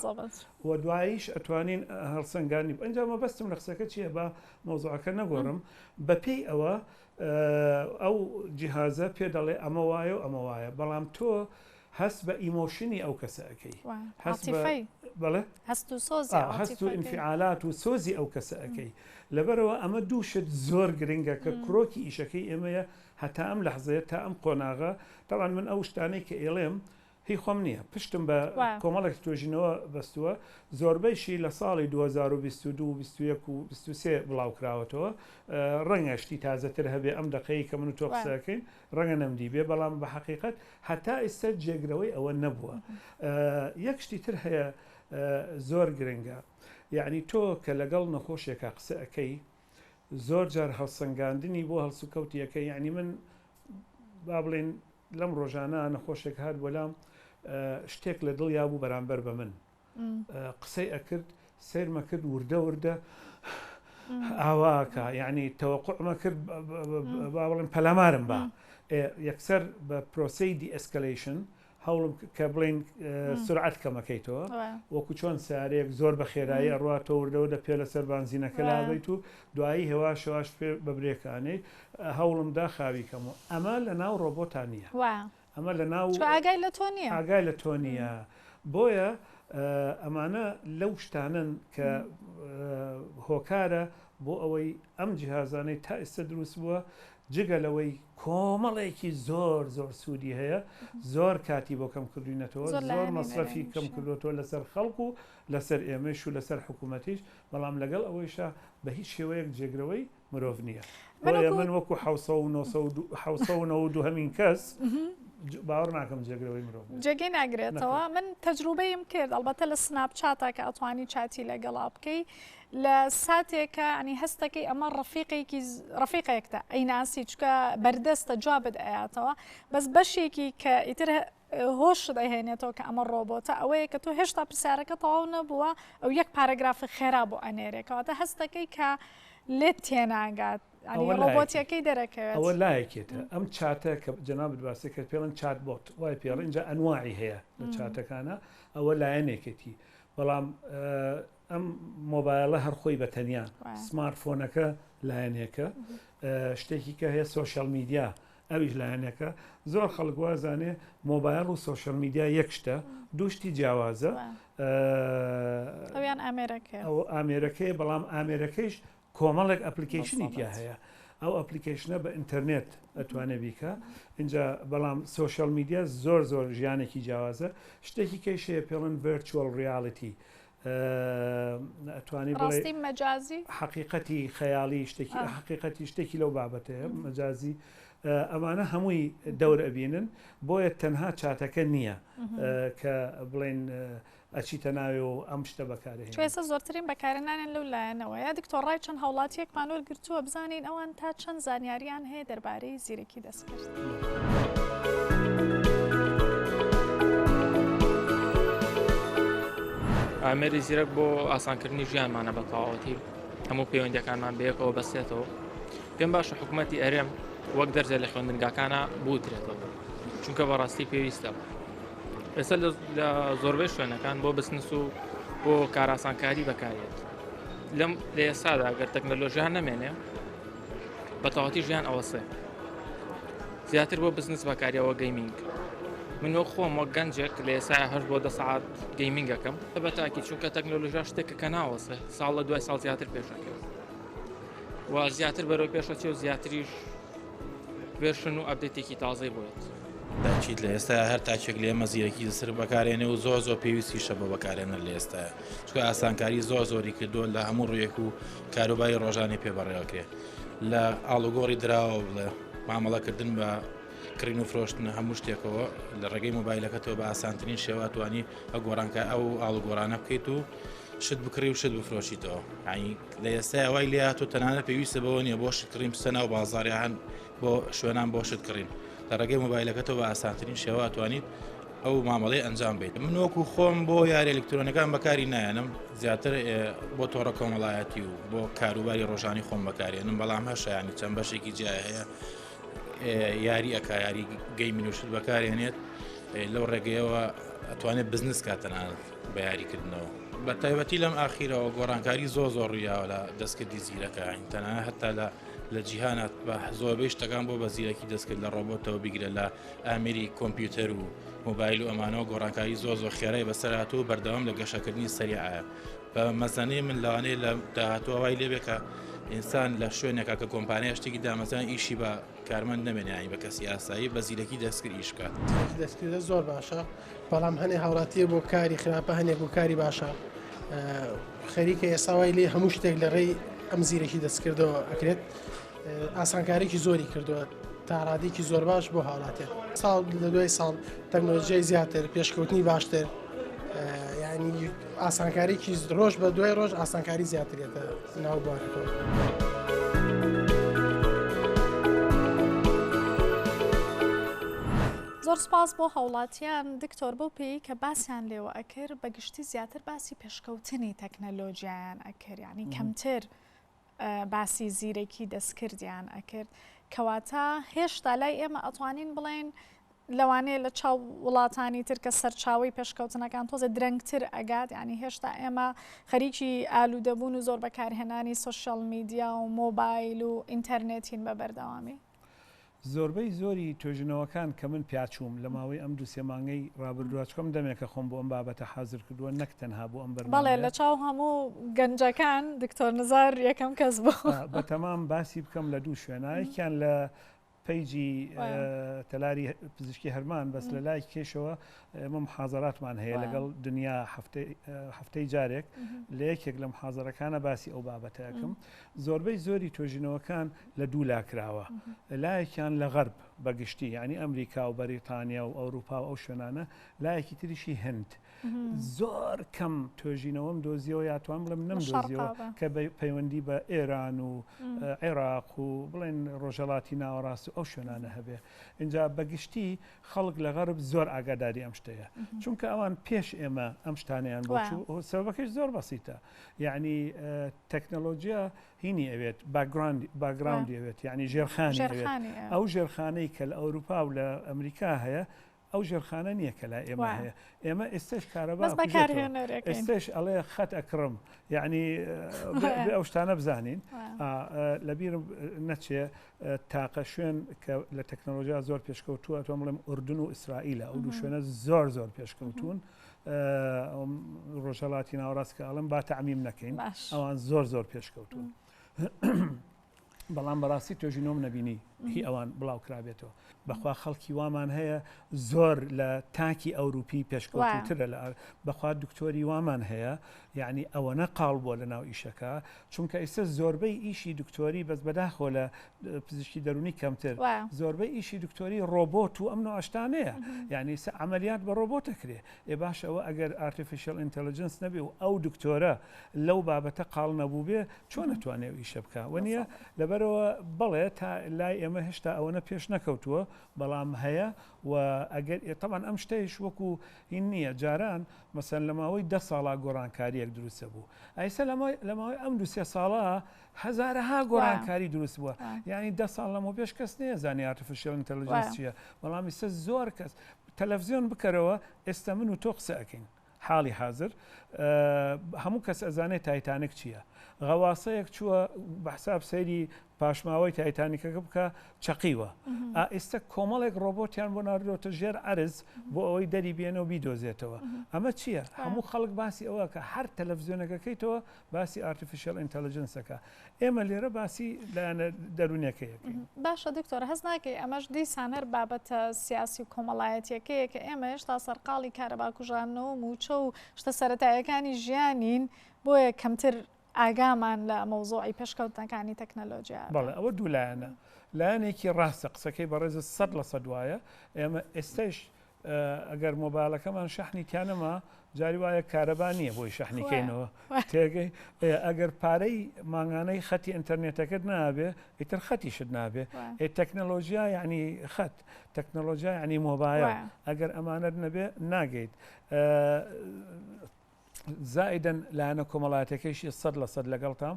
و دواییش ئەتوانین هەڵسەنگاندنی بکەین. ئەنجا مەبەستم لە قسەکە چییە با مەوزوعەکە نەگۆڕم، بەپێی ئەوە ئەو جیهازە پێ دەڵێ ئەمە وایە و ئەمە وایە، بەڵام تۆ هەست بە ئیمۆشنی ئەو کەسە ئەکەی، عاتیفەی، بەڵێ، هەست و سۆز، هەست و ئینفیعالات و سۆزی ئەو کەسە ئەکەی، لەبەرئەوە ئەمە دوو شت زۆر گرنگە کە کرۆکی ئیشەکەی ئێمەیە هەتا ئەم لەحزەیە تا ئەم قۆناغە تەبعەن من ئەو شتانەی کە ئێڵێم هی خۆم نییە پشتم بە وایە. کۆمەڵێک توێژینەوە بەستووە زۆربەیشی لە ساڵی دوو هەزار و بیست و دوو و بیست و یەک و بیست و سێ بڵاو کراوەتەوە ئە ڕەنگە شتی تازەتر هەبێ ئەم دەقەیەی کە من و تۆ وایە. قسە ئەکەین ڕەنگە نەمدیبێ بەڵام بە حەقیقەت هەتا ئیستە جێگرەوەی ئەوە نەبووە ئە یەک شتی تر هەیە ئە زۆر گرنگە یەعنی تۆ کە لەگەڵ نەخۆشێکا قسە ئەکەی زۆر جار هەڵسەنگاندنی بۆ هەڵسوکەوتی یەکە یانی من با بڵێن لەم ڕۆژانە نەخۆشێک هات بۆلام شتێک لە دڵیا بوو بەرامبەر بە من قسەی ئەکرد سیرمە کرد وردە وردە ئاواکە یعنی تەوەقعمە کرد با بڵێن پەلامارم بە یەکسەر بە پرۆسی دیئسکلیشن هەوڵم کە بڵێین سرعەت کەمەکەیتەوە وەکو چۆن سارێک زۆر بە خێرایی ئەڕات تۆ وردەوردە پێ لەسەر بانزینەکە لابیت و دوایی هێواش هێواش پێ بە برێکانەی هەوڵمدا خاوی کەم و ئەمە لە ناو ڕۆبۆتا نییە ئەمە لە ناو ئاگای لە تۆ نیە ئاگای لە تۆ نییە بۆیە ئەمانە لەو شتانن کە هۆکارە بۆ ئەوەی ئەم جیهازانەی تا ئیستە دروست بووە جگە لەوەی کۆمەڵێکی زۆر زۆر سوودی هەیە زۆر کاتی بۆ کەم کردوینەتەوە زۆر مەسرەفی کەم کردوەوە لەسەر خەڵک و لەسەر ئێمەش و لەسەر حکوومەتیش بەڵام لەگەڵ ئەوەیشە بە هیچ شێوەیەک جێگرەوەی مرۆڤ نییە بەڵێ من وەکو ح دوهمین کەس باوەڕ ناکەم جێگرەوەی مرۆڤ جێگەی ناگرێتەوە من تەجروبەیم کرد ئەڵبەتە لە سناپ چاتە کە ئەتوانی چاتی لەگەڵا بکەی لە ساتێکە ئەنی هەستەکەی ئەمە ڕفیقێکی ڕفیقێکتە ئەیناسی چکە بەردەستە جوابت ئەیاتەوە بەس بەشێکی کە ئیتر هۆش دەهێنێتەوە کە ئەمە ڕۆبۆتە ئەوەیە کە تۆ هێشتا پرسیارەکە تەواو نەبووە ئەو یەک پارەگرافی خێرا بۆ ئەنێرێکەوەتە هەستەکەی کە لێت تێناگات ڕۆبۆتیەکەی دەرەکەوێت ئەوە لایەکێتە ئەم چاتە کە جەناب باسی کرد پێڵن چات بۆت وای پێڵ اینجا ئەنواعی هەیە لە چاتەکانە ئەوە لایەنێکێتی بەڵام ئەم مۆبایڵە هەر خۆی بە تەنیا سمارت فۆنەکە لایەنێکە شتێکی کە هەیە سوۆشال میدیا ئەویش لایەنەکە زۆر خەڵک وازانێ مۆبایل و سوۆشال میدیا یەک شتە دوشتی جیاوازە ئەویان ئامێرەکە ئەو ئامێرەکەی بەڵام ئامێرەکەیش کۆمەڵێک ئەپلیکەیشنی تیا هەیە ئەو ئەپلیکەیشنە بە ئینتەرنێت ئەتوانێ بیکا ئینجا بەڵام سۆشیال میدیا زۆر زۆر ژیانێکی جیاوازە شتێکی کەی شەیە پێڵن ڤێرچوەل ڕیالیتی ئەتوانی بڵێ مەجازی حقیقەتی خەیاڵی شتێکی حقیقەتی شتێکی لەو بابەتەیە مەجازی ئەمانە هەمووی دەور ئەبینن بۆیە تەنها چاتەکە نییە کە بڵێن ئەچیتە ناوێ و ئەم شتە بەکارە چۆ هێنێ. ئێستا زۆرترین بەکارە نانێن لەو لایەنەوە یا دکتۆر ڕای چەند هاوڵاتیەکمان وەر گرتووە بزانین ئەوان تا چەند زانیاریان هەیە دەربارەی زیرەکی دەستکرد. ئامێری زیرەک بۆ ئاسانکردنی ژیانمانە بە تەواوەتی هەموو پەیوەندیەکانمان بەیەکەوە بەستێتەوە پێم باشە حکومەتی ئەرێم وەک دەرزێ لە خوێندنگاکانا بوترێتەوە چونکە بەڕاستی پێویستە. ئێستا لە زۆربەی شوێنەکان بۆ بزنس و بۆ کاراسانکاری بەکارێت لەم لە ئێستادا گەر تەکنەلۆژیان نەمێنێ بەتەواتی ژیان ئەوەسێ زیاتر بۆ بزنس بەکاریەوە گەیمینگ من وەک خۆم وەک گەنجێک لە ئێسا هەر بۆ دە سعات گەیمینگەکەم بە تاکی چونکە تەکنۆلژا شتێکە کە ناوەسێ ساڵ لە دوای ساڵ زیاتر پێشەکەوە و زیاتر بەرەو پێشەچێ و زیاتریش ڤێرشن و ئەپدەیتێکی تازەی بۆ دێت. تاکید لە ئێستایا هەر تاکێک لە ئێمە زیرەکی زسر بەکارێنێ و زۆر زۆر پێویستیشە بۆ بەکارێنەر لە ئێستاە چکە ئاسانکاری زۆر زۆری کردو لە هەموو ڕوویەک و کاروباری ڕۆژانی پێ بەڕێوەکرێ لە ئاڵوگۆڕی دراوە بڵێ مامەڵەکردن بە کڕین و فرۆشتن هەموو شتێکەوە لە ڕێگەی مۆبایلەکەتەوە بە ئاسانترین شێواتوانی ئە گۆڕانکە ئەو ئاڵوگۆرانە بکەیت و شت بکڕی و شت بفرۆشیتەوە ئاین لە ئێستایا وای لێ هاتوو تەنانە پێویستە بەوە نیە بۆ شتکڕین بچە ناو بازاریان بۆ شوێنان بۆ شتکڕین لە ڕێگەی مۆبایلەکەتەوە بە ئاسانترین شێوە توانیت ئەو مامەڵی ئەنجام بیت من وەکو خۆم بۆ یاری ئەلکترۆنەکان بەکاری نایەنم زیاتر بۆ تۆڕە کۆمەڵایەتی و بۆ کاروباری ڕۆژانی خۆم بەکارێنم بەڵام هەشیانی چەند بەشێکی جیای هەیە یاری ئەکایاری گەی منوشت بەکارێنێت لەو ڕێگەیەوە ئەتوانێت بزنس کاتەنانەت بە یاری کردنەوە بە تایبەتی لەم ئاخیرەوە گۆڕانکاری زۆ زۆر ڕویاوە لە دەستکردی زیرەکان تەنە هەتا لە لە جیهانات بە زۆربەی شتەکان بۆ بە زیرەکی دەستکرد لە ڕۆبۆتەوە بیگرە لە ئامری کۆمپیوتەر و موبایل و ئەمانەوە گۆڕانکاری زۆ زۆ خێرای بەسەرات و بەردەوام لە گەشەکردنی سەریعە بە مەزانەی من لەوانەیە لە داهاتوە وای لێبێکە ئینسان لە شوێنێکە کە کۆمپانیا شتێکی دامەزان ئیشی بە کارمەند نەمێنیانی بە کەسی ئاسایی بە زیرەکی دەستکرد ئیشکات دەستکردە زۆر باشە بەڵام هەنێ هاوڵاتیە بۆ کاری خراپە هەنێک بۆ کاری باشە خەریکە ئێساوای لێ هەموو شتێک لە ڕێی ئەم زیرەکی دەستکردەوە ئەکرێت ئاسانکارێکی زۆری کردووە تاڕادێکی زۆر باش بۆ هاوڵاتێ ساڵ لە دوای ساڵ تەکنۆلژیای زیاتر پێشکەوتنی باشتر ینی ئاسانکارێکی ڕۆژ بە دوای ڕۆژ ئاسانکاری زیاترێتە ناو بوارەکەەوە. زۆر سوپاس بۆ هاوڵاتیان دکتۆر بەو پێیی کە باسیان لێوە ئەکرد بە گشتی زیاتر باسی پێشکەوتنی تەکنەلۆجیایان ئەکرد یعنی کەمتر باسی زیرەکی دەستکردیان ئەکرد کەواتە هێشتا لای ئێمە ئەتوانین بڵێن لەوانەیە لە چاو وڵاتانی تر کە سەرچاوی پێشکەوتنەکان تۆزە درەنگتر ئەگات ینی هێشتا ئێمە خەریکی ئالوودەبوون و زۆر بەکارهێنانی سوسیال میدیا و مۆبایل و ئینتەرنێتین بە بەردەوامی زۆربەی زۆری توێژینەوەکان کە من پیاچووم لە ماوەی ئەم دوو سێ مانگەی ڕابردووە، چکۆم دەمێکە خۆم بۆ ئەم بابەتە حازر کردووە نەک تەنها بۆ ئەم بەرنامەیە. بەڵێ لە چاو هەموو گەنجەکان دکتۆر نزار یەکەم کەس بوو. بەتەمام باسی بکەم لە دوو شوێنا، یەکیان لە پەیجی تەلاری پزیشکی هەرمان بەس لە لای کێشەوە ئێمە محازەراتمان هەیە لەگەڵ دنیا هەفتەی جارێک لە یەکێک لە محازەرەکانە باسی ئەو بابەتەکەم زۆربەی زۆری توێژینەوەکان لە دوو لا کراوە، لایەکیان لە غەرب بە گشتی، یانی ئەمریکا و بەریتانیا و ئەوروپا و ئەو شوێنانە، لایەکی تریشی هند. زۆر کەم توێژینەوەم دۆزیەوە یا توان بڵێم نەمدۆزیەوە کە پەیوەندی بە ئێران و عێراق و بڵێن ڕۆژەڵاتی ناوەڕاست و ئەو شوێنانە هەبێ. ئینجا بە گشتی خەڵک لە غەرب زۆر ئاگاداری ئەم شتەیە. چونکە ئەوان پێش ئێمە ئەم شتانەیان بۆچوو سەبەکەش زۆر بەسیتە. یعنی تەکنەلۆجیا هینی ئەوێت، باکگراوندی ئەوێت، یانی ژێرخانی ئەوێت. ئەو ژێرخانەی کە لە ئەوروپا و لە ئەمریکا هەیە، ئەو ژێرخانە نییە کە لای ئێمە هەیە. ئێمە ئێستاش کارەبا ئەکوژێتەوە. ئێستاش ئەڵێ خەت ئەکڕم. یانی بێ ئەو شتانە بزانین. لەبیرم نەچێ تاقە شوێن کە لە تەکنەلۆژیا زۆر پێشکەوتووە، ئەتوام بڵێم ئوردن و ئیسرائیلە. ئەو دوو شوێنە زۆر زۆر پێشکەوتوون. ڕۆژهەڵاتی ناوەڕاست کە ئەڵم با تعمیم نەکەین ئەوان زۆر زۆر پێشکەوتون بەڵام بەڕاستی توێژی نۆم نەبینی هی ئەوان بڵاو کرابێتەوە بەخوا خەڵکی وامان هەیە زۆر لە تاکی ئەوروپی پێشکەوتترە لە بەخوا دکتۆری وامان هەیە یعنی ئەوەنە قاڵ بووە لە ناو ئیشەکە چونکە ئیسە زۆربەی ئیشی دکتۆری بەس بەداخۆ لە پزیشکی دەرونی کەمتر زۆربەی ئیشی دکتۆری ڕۆبۆت و ئەم نوعشتانەیە یعنی سە عملیات بە ڕۆبۆت دەکرێ ئێ باش ئەوە ئەگەر ئارتفیشل ئینتەلجنس نەبێ و ئەو دکتۆرە لەو بابەتە قاڵ نەبوو بێ چۆن ئەتوانێ و ئیشە بکە وە نیە لەبەرەوە بەڵێ تا لای ئێمە هێشتا ئەوەنە پێش نەکەوتووە بەڵام هەیە و ئەگەر ئێتەمان ئەم شتەیش وەکو هین نییە جاران مەسەن لە ماوەی دە ساڵا گۆڕانکاریەک دروستە بوو ئایسە لەمای لە ماوەی ئەم دوسێ ساڵە هەزارەها گۆڕانکاری دروست بووە یانی دە ساڵ لەمەوپێش کەس نێزانانی ئارتفیشل ئینتەلجنس چییە بەڵام ئیستا زۆر کەس تەلەڤزیۆن بکەرەوە ئێستا من و تۆ قسە ئەکەین حاڵی حازر هەموو کەس ئەزانێت تایتانک چییە غەواسەیەک چووە بەحساب سەیری پاشماوەی تایتانیکەکە بکە چەقیوە ئێستا کۆمەڵێک ڕۆبۆتیان بۆ ناردۆتە ژێر عرز بۆ ئەوەی دەری بێنەوە بیدۆزێتەوە ئەمە چییە هەموو خەڵک باسی ئەوە کە هەر تەلەڤزیۆنەکەکەیتەوە باسی ئارتفیشیەل ئینتەلجنس دەکا ئێمە لێرە باسی لایەنە دەروونەکەی یەکەین. باشە دکتۆر هەست ناکەی ئەمەش دیسان هەر بابەتە سیاسی و کۆمەڵایەتیەکەیە کە ئێمە هێشتا سەرقاڵی کارەبا کوژاندنەوە و مووچە و شتە سەرەتایەکانی ژیانین بۆیە کەمتر ئاگامان لە مەوزۆعی پێشکەوتنەکانی تەکنەلۆژیا بەڵێ ئەوە دوو لایەنە لایەنێکی ڕاستە قسەکەی بەڕێزت سەد لە سەد وایە ئێمە ئێستش ئەگەر مۆبایلەکەمان شەحنی تیانەما جاری وایە کارەبا نییە بۆی شەحنی کەینەوە تێگەی ئەگەر پارەی مانگانەی خەتی ئینتەرنێتەکەت نابێ ئیتر خەتیشت نابێ ئێ تەکنەلۆژیا یعنی خەت تەکنەلۆژیا ینی مۆبایە ئەگەر ئەمانەت نەبێ ناگەیت زائیدەن لایەنە کۆمەڵاتیەکەیشی سەد لە سەد لەگەڵتام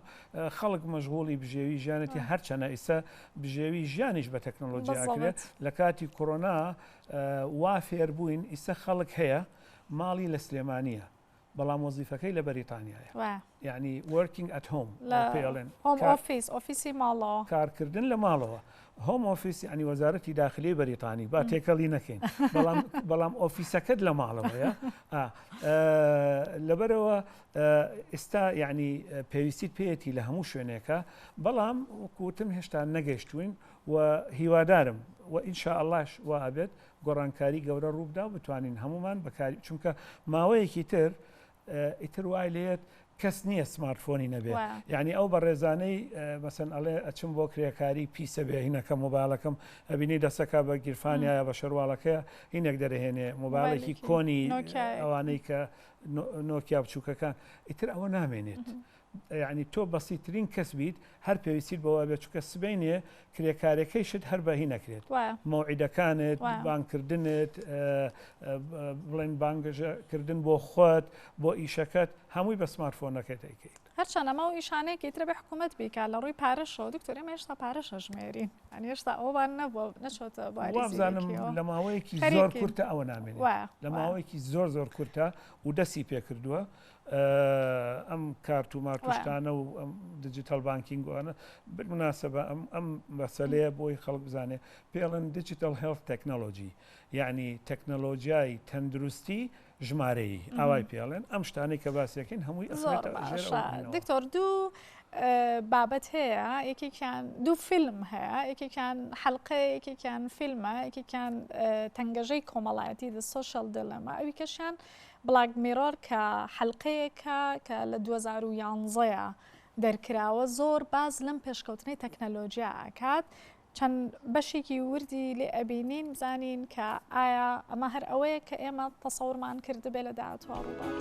خەڵک مەژغوڵی بژێوی ژیانێتی هەرچەنە ئیسە بژێوی ژیانیش بە تەکنۆلۆژی ئاکرێت لە کاتی کۆرۆنا وا فێربووین ئیسە خەڵک هەیە ماڵی لە سلێمانە بەڵام وەزیفەکەی لە بەریتانیایە یعنی وەرکینگ ئەتهۆم پێڵێن ئۆفیسی ماڵەوە کارکردن لە ماڵەوە هۆم ئۆفیس یانی وەزارەتی داخلیی بەریتانی با تێکەڵی نەکەین بەڵام ئۆفیسەکەت لە ماڵەوەیە لەبەرەوە ئێستا یعنی پێویستیت پێەتی لە هەموو شوێنێکە بەڵام وکوتم هێشتا نەگەشتوین و هیوادارم و ئینشا ئەلش و ئابێت گۆڕانکاری گەورە ڕووبدا بتوانین هەمومان بەکاری چونکە ماوەیەکی تر ئیتر وای لێت کەس نییە سمارت فۆنی نەبێت یعنی ئەو بەڕێزانەی مەسن ئەڵێ ئەچم بۆ کرێکاری پیسە بێ هینەکە مۆبایلەکەم ئەبینی دەسەکە بە گیرفانایە بە شەرواڵەکەی هینێک دەرهێنێ مۆبایلێکی کۆنی ئەوانەی کە نۆکیا بچووکەکان ئیتر ئەوە نامێنێت. یەعنی تۆ بەسیترین کەس بیت هەر پێویستیت بەوە بێت چونکە سبەینێ کرێکارەکەیشت هەر بە هی نەکرێت وایە مەوعیدەکانت وایە بانگکردنت بڵێن بانگەشە کردن بۆ خۆت بۆ ئیشەکەت هەمووی بە سمارتفۆنەکەت دەیکەیت. هەرچەند ئەمە و ئیشانەیە کە ئیتر بێ حکوومەت بیکات لە ڕووی پارەشەوە دکتۆر ئێمە هێشتا پارەش ئەژمێرین یانی هێشتا ئەوەمان نەبووە نەچۆتە باری وا بزانم زیرەکیەوە لە ماوەیەکی زۆر خەریکین کورتە ئەوە نامێنێت وایە لە وایە ماوەیەکی زۆر زۆر کورتە و دەستی پێکردووە ئەم کارت و مارت و شتانە و دیجیتەڵ بانکینگ و ئەوانە بالمناسبە ئەم مەسەلەیە بۆی خەڵک بزانێ پێڵن دیجیتەڵ هێڵت تەکنەلۆجی یعنی تەکنەلۆجیای تەندروستی ژمارەیی ئاوای پێڵێن ئەم شتانەی کە باسیەکەین هەمووی ئەخوێتە ژێر ئەوە. ئەوانەوە. دکتۆر دوو بابەت هەیە یەکێکیان دوو فیلم هەیە یەکێکیان حەلقە یەکێکیان فیلمە یەکێکیان تەنگەژەی کۆمەڵایەتی دە سۆشیال دلەما ئەوی کەشیان بڵاک میڕۆر کە حەلقەیەکە کە لە دوو هەزار و یانزە دەرکراوە زۆر باس لەم پێشکەوتنەی تەکنەلۆجیا ئەکات چەند بەشێکی وردی لێ ئەبینین بزانین کە ئایا ئەمە هەر ئەوەیە کە ئێمە تەسەورمان کردبێ لە داهاتوە ڕووبات.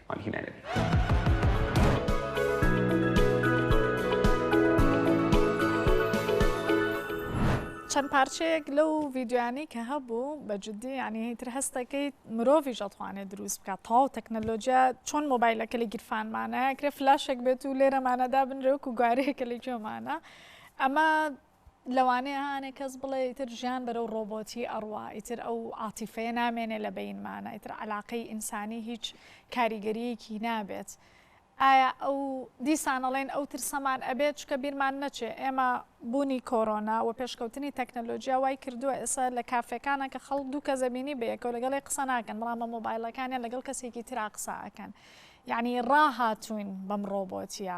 مامی هینا نەبی. چەند پارچەیەک لەو ڤیددیوانەی کە هەبوو بە جددی ینی هیتر هەستەکەی مرۆڤ ژەتوانێت دروست بکات تاو تەکنەلۆجیا چۆن مۆبایلەکە لە گیرفانمانە کرێ فلاشێک بێت و لێرەمانەدا بنرێک و گوارەیەکە لە گوێمانە ئەمە لەوانەیە هانێ کەس بڵێ ئیتر ژیان بەرەو ڕۆبۆتی ئەڕوا ئیتر ئەو عاتیفەیە نامێنێ لە بەینمانە ئیتر عەلاقەی ئینسانی هیچ کاریگەریەکی نابێت ئایا ئەو دیسانەڵێن ئەو ترسەمان ئەبێت چکە بیرمان نەچێ ئێمە بوونی کۆرۆنا و پێشکەوتنی تەکنەلۆژیا وای کردووە ئێستا لە کافێکانە کە خەڵ دوو کەزەبینی بەیەکەوە لەگەڵی قسە ناکەن بەڵام بە مۆبایلەکانیان لەگەڵ کەسێکی ترا قسە ئەەکەن یعنی ڕاهاتوین بەم ڕۆبۆتیە.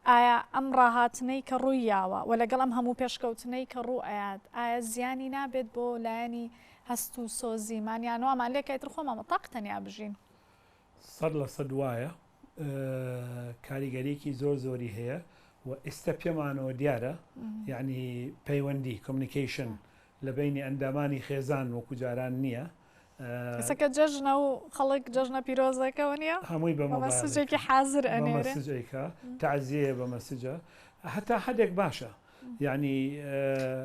ئایا ئەم ڕاهاتنەی کە ڕووی یاوە و لەگەڵ ئەم هەموو پێشکەوتنەی کە ڕوو ئەیات ئایا زیانی نابێت بۆ لایەنی هەست و سۆزیمان یان وامان لێکە ئیتر خۆمان بە تاق تەنیا بژین؟ سەد لە سەد وایە کاریگەریەکی زۆر زۆری هەیە و ئیستە پێمانەوە دیارە یانی پەیوەندی Communication لە بەینی ئەندامانی خێزان وەکو جاران نییە کەسەکە جەژنە و خەڵک جەژنە پیرۆزەکەەوە نیە هەمووی بە مەسجێکی حازر ئەنێرێکە تازیەیە بە مەسجە هەتا حدێک باشە ینی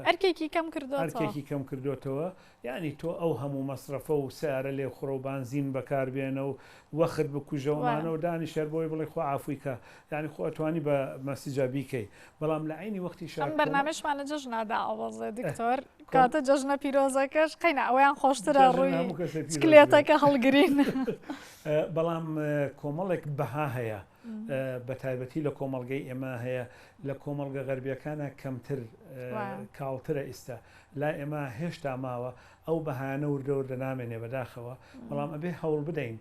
ئەرکێکی کەم کردو ئەرکێکی کەم کردوێتەوە ینی تۆ ئەو هەموو مەصرفە و سیارە لێ خڕۆ و بانزین بەکاربێنە و وەخت بکوژەوەمانەوە دانی شەر بۆی بڵێ خۆ ئافویکە ینی خۆتوانی بە مەسیجا بیکەی بەڵام لە عەینی وەختیشا ئەم بەرنامەیشمان لە جەژنا دائەوەزێ دکتۆر کاتە جەژنە پیرۆزەکەش قەینا ئەویان خۆشترە ڕووی چکلێتەکە هەڵگرین بەڵام کۆمەڵێک بەها هەیە بە تایبەتی لە کۆمەلگەی ئێمە هەیە لە کۆمەلگە غەربیەکانە کەمتر کاڵترە ئیستا لا ئێمە هێشتا ماوە ئەو بەهانە وردەور لە نامێنێ بەداخەوە بەڵام ئەبێ هەوڵ بدەین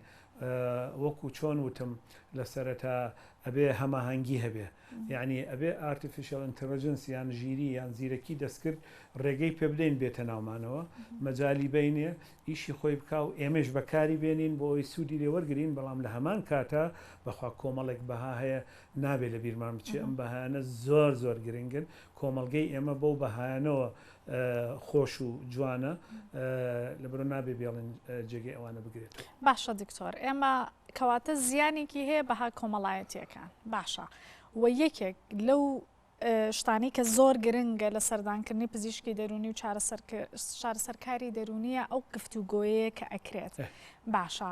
وەکو چۆن وتم لە سەرەتا ئەبێ هەماهەنگی هەبێ یانی ئەبێ ئارتیفیشەڵ ئینتێڵجنس یان ژیری یان زیرەکی دەستکرد ڕێگەی پێ بدەین بێتە ناومانەوە، مەجالی بەینێ، ئیشی خۆی بکا و ئێمەیش بەکاری بێنین بۆ ئەوەی سوودی لێ وەرگرین، بەڵام لە هەمان کاتا بەخوا کۆمەڵێک بەها هەیە نابێ لەبیرمان بچێ، ئەم بەهایانە زۆر زۆر گرنگن، کۆمەڵگەی ئێمە بەو بەهایانەوە خۆش و جوانە لەبەرو نابێ بێڵین جێگەی ئەوانە بگرێت باشە دکتۆر ئێمە کەواتە زیانێکی هەیە بەها کۆمەڵایەتیەکان باشە و یەکێک لەو شتانی کە زۆر گرنگە لە سەردانکردنی پزیشکی دەرونی و چارەسەرکاری دەرونیە ئەو گفتوگۆیەیە کە ئەکرێت باشە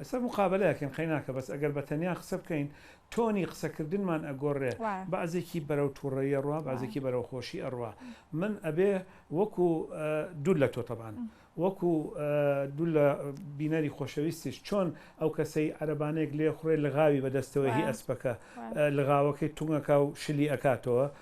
ئێستا مقابەلە ئەکەین قەیناکە بەس ئەگەر بە تەنیا قسە بکەین تۆنی قسەکردنمان ئەگۆڕێ بەعزێکی بەرەو تووڕەیی ئەڕوا بەعزێکی بەرەو خۆشی ئەڕوا من ئەبێ وەکو دوور لە تۆ تەبان وەکو دوو لە بینەری خۆشەویستیش چۆن ئەو کەسەی عەربانێک لێ خوڕێ لغاوی بەدەستەوەی ئەسپەکە لغاوەکەی تونگەکە و شلی ئەکاتەوە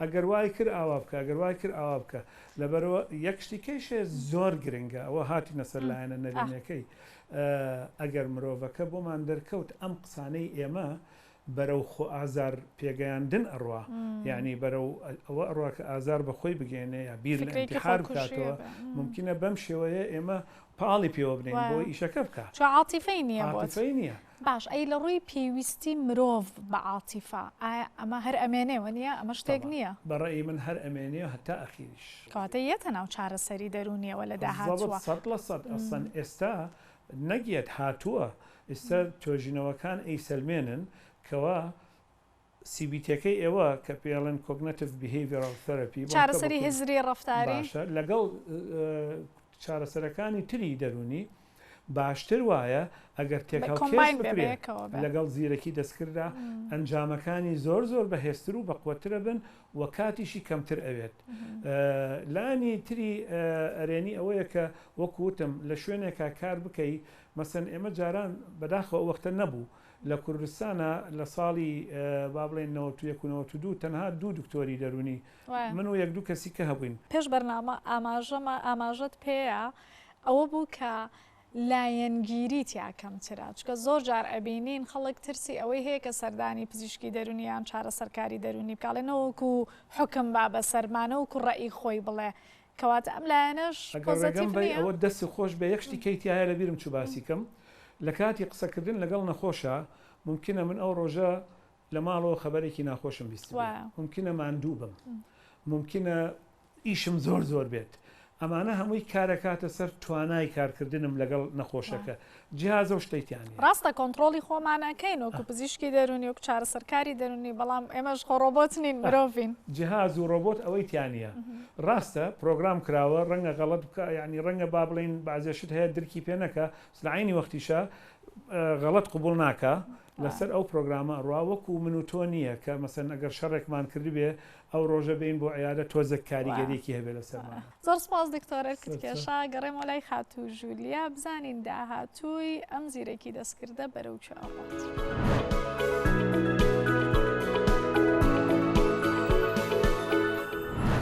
ئەگەر وای کرد ئاوا بکە، ئەگەر وای کرد ئاوا بکە. لەبەرئەوە یەک شتی کەیشێ زۆر گرنگە، ئەوە هاتینە سەر لایەنە نەرێنیەکەی. ئەگەر مرۆڤەکە بۆمان دەرکەوت ئەم قسانەی ئێمە بەرەو خۆئازار پێگەیاندن ئەڕوا، یانی بەرەو ئەوە ئەڕوا کە ئازار بە خۆی بگەیەنێ یا بیر لە ئینتیحار بکاتەوە، مومکینە بەم شێوەیە ئێمە پاڵی پێوە بنێین بۆی ئیشەکە بکا. چون عاتیفەی نییە بۆت. عاتیفەی نییە. باش ئەی لە ڕووی پێویستی مرۆڤ بە عاتیفە ئایا ئەمە هەر ئەمێنێ وە نیە ئەمە شتێک طبعا نیە؟ بە ڕەئی من هەر ئەمێنێ هەتا ئەخیریش. کەواتە یەتە ناو چارەسەری دەروونیەوە لە بالضبط داهاتووە. سەد لە سەد ئەسڵەن ئێستا نەک یەت هاتووە ئیستا توێژینەوەکان ئەیسەلمێنن کەوا. سی بی تیەکەی ئێوە کە پێی ئەڵێن کۆگنەتڤ بیهەیڤیڕاڵ ثێرەپی بۆ کە بە کوردی باشە لەگەڵ چارەسەرەکانی تری دەروونی باشتر وایە ئەگەر تێکهەڵکێش بکرێت لەگەڵ زیرەکی دەستکرددا ئەنجامەکانی زۆر زۆر بەهێزتر و بەقوەترە بن و کاتیشی کەمتر ئەوێت لانی تری ئەرێنی ئەوەیە کە وەکوتم لە شوێنێکا کار بکەی مەسەن ئێمە جاران بەداخەوە وەختە نەبوو لە کوردستانا لە ساڵی با بڵێین نەوەت و یەک و نەوەت و دوو تەنها دوو دکتۆری دەروونی من و یەک دوو کەسی کە هەبووین. پێش بەرنامە ئاماژەمە ئاماژەت پێ ئەوە بوو کە لایەنگیری تیا کەمترە چونکە زۆر جار ئەبینین خەڵک ترسی ئەوەی هەیە کە سەردانی پزیشکی دەروونی یان چارەسەرکاری دەروونی بکا ئەڵێ نەوەکو حوکم با بەسەرما نەوەکو ڕەئی خۆی بڵێ کەواتە ئەم لایەنەش پۆزەتیڤ نیە. ئەگەر ڕێگەم بەی ئەوە دەستت خۆش بێ یەک شتی کەی تیایە لە بیرم چوو باسی کەم لە کاتی قسە کردن لەگەڵ نەخۆشا مومکینە من ئەو ڕۆژە لە ماڵەوە خەبەرێکی ناخۆشم بیستبێ مومکینە ماندوو بم مومکینە ئیشم زۆر زۆر بێت ئەمانە هەمووی کارەکاتە سەر توانای کارکردنم لەگەڵ نەخۆشەکە جیهازە و شتەی تیا نییە. ڕاستە کۆنتڕۆڵی خۆمان ئەکەین وەکو پزیشکی دەروونی وەکو چارەسەرکاری دەروونی بەڵام ئێمەش خۆ ڕۆبۆت نین مرۆڤین. جیهاز و ڕۆبۆت ئەوەی تیا نییە. ڕاستە پرۆگرام کراوە ڕەنگە غەڵەت بکا یەعنی ڕەنگە با بڵێین بەعزێ شت هەیە درکی پێ نەکا بەس لە عەینی وەختیشا غەڵەت قبوڵ ناکا لەسەر ئەو پرۆگرامە ئەڕوا وەکو من و تۆ نییە کە مەسەلەن ئەگەر شەڕێکمان کردبێ ئەو ڕۆژە بێین بۆ عیادە تۆزێک کاریگەریەکی هەبێ لەسەرمانا. زۆر سپاس دکتۆر ئەرکتکێشا گەڕێمەوە لای خاتوو ژولیا بزانین داهاتووی ئەم زیرەکی دەستکردە بەرەو کوێ ئەڕوات.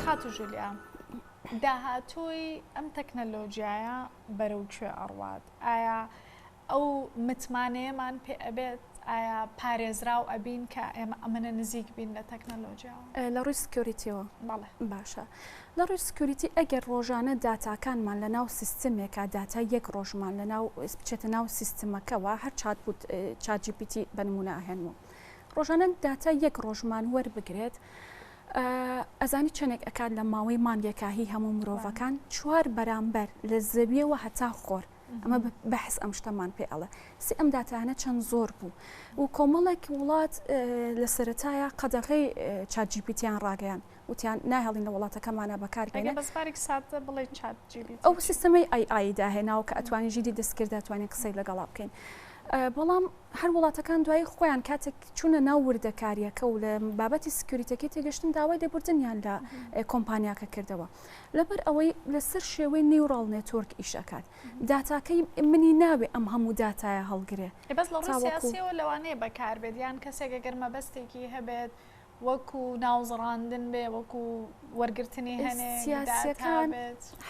خاتوو ژولیا داهاتووی ئەم تەکنەلۆجیایە بەرەو کوێ ئەڕوات ئایا ئەو متمانەیەمان پێ ئەبێت ئایا پارێزراو ئەبین کە ئێمە ئەمەنە نزیک بین لە تەکنەلۆجیاوە؟ لە ڕووی سکیۆریتیەوە؟ بەڵێ. باشە لە ڕووی سکیۆریتی ئەگەر ڕۆژانە داتاکانمان لە ناو سیستمێکا داتای یەک ڕۆژمان لە ناو بچێتە ناو سیستمەکەوە هەر چات بوت چات جی پی تی بە نموونە ئەهێنمەوە ڕۆژانە داتای یەک ڕۆژمان وەربگرێت ئەزانی چەندێک ئەکات لە ماوەی مانگێکا هی هەموو مرۆڤەکان چوار بەرامبەر لە زەویەوە هەتا خۆر ئەمە بەحس ئەم شتەمان پێ ئەڵێ سی ئەم داتانە چەند زۆر بوو و کۆمەڵێک وڵات لە سەتایە قەدەغی چاجیپیتیان ڕاگەیان وتیان ناهێڵین لە وڵاتەکەمانە بەکارگەێنە بەسپارێک ساتە بڵێ چات ئەو سیستەمەی ئای ئایدا هێناوە کە ئەتوانی ژیدی دەستکرداتوانین قسەی لەگەڵا بکەین. بەڵام هەر وڵاتەکان دوای خۆیان کاتێک چوونە ناو وردەکاریەکە و لە بابەتی سکیوریتەکەی تێگەشتن داوای لێبوردنیان لە کۆمپانیاکە کردەوە لەبەر ئەوەی لەسەر شێوەی نیوڕاڵ نێتۆرک ئیش ئەکات داتاکەی منی ناوێ ئەم هەموو داتایە هەڵگرێ بەس لە ڕووی سیاسیەوە لەوانەیە بەکاربێت یان کەسێک ئەگەر مەبەستێکی هەبێت وەکو ناوزڕاندن بێ وەکو وەرگرتنی هەنێ سیاسەکان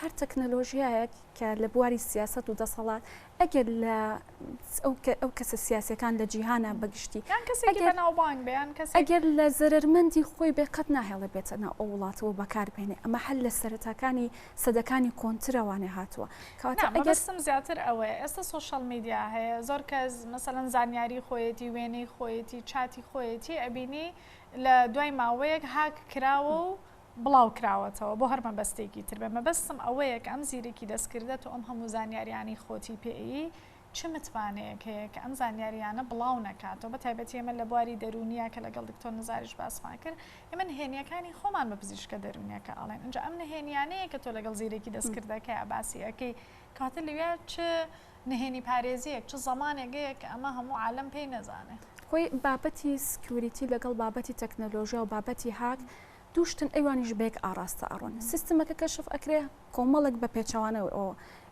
هەر تەکنەلۆژیایەک کە لە بواری سیاست و دەسەڵات ئەگەر لە ئەو کەسە سیاسەکان لە جیهانە بەگشتی ئەگەر لە زەرمەندی خۆی بێ قەت ناهێڵە بێتە ناو ئەو وڵاتەوە بەکاربێنێ ئەمە هەر لە سەرەتاکانی سەدەکانی کۆنترەوانێ هاتووە ئەگەرستم زیاتر ئەوە ئێستا سوۆشەڵ میدیا هەیە زۆر کەس مەسەەن زانیاری خۆیەتی وێنەی خۆیەتی چاتی خۆیەتی ئەبینی لە دوای ماوەیەک هاک کراوە و بڵاوکراوەتەوە بۆ هەر مەبەستێکی تر بێت، مەبەستم ئەوەیە کە ئەم زیرەکی دەستکردەت و ئەم هەموو زانیاریانەی خۆتی پێیی چ متمانەیەک هەیە کە ئەم زانیاریانە بڵاو نەکاتەوە بە تایبەتی ئێمە لە بواری دەروونیا کە لەگەڵ دکتۆر نزاریش باسمان کرد ئێمە نهێنیەکانی خۆمان بە پزیشکە دەروونیەکە ئەڵێن ئینجا ئەم نهێنیانەیە کە تۆ لەگەڵ زیرەکی دەستکردەکەیا باسی ئەکەی کەواتە لەویا چ نهێنی پارێزیەک چ زەمانێک هەیە کە ئەمە هەموو عالم پێی نەزانێت خۆی بابەتی سکیوریتی لەگەڵ بابەتی تەکنەلۆژیا و بابەتی هاک دوو شتن ئەوانیش بەیەک ئاڕاستە ئەڕۆن، سیستمەکە کەشف ئەکرێ، کۆمەڵێک بە پێچەوانەوە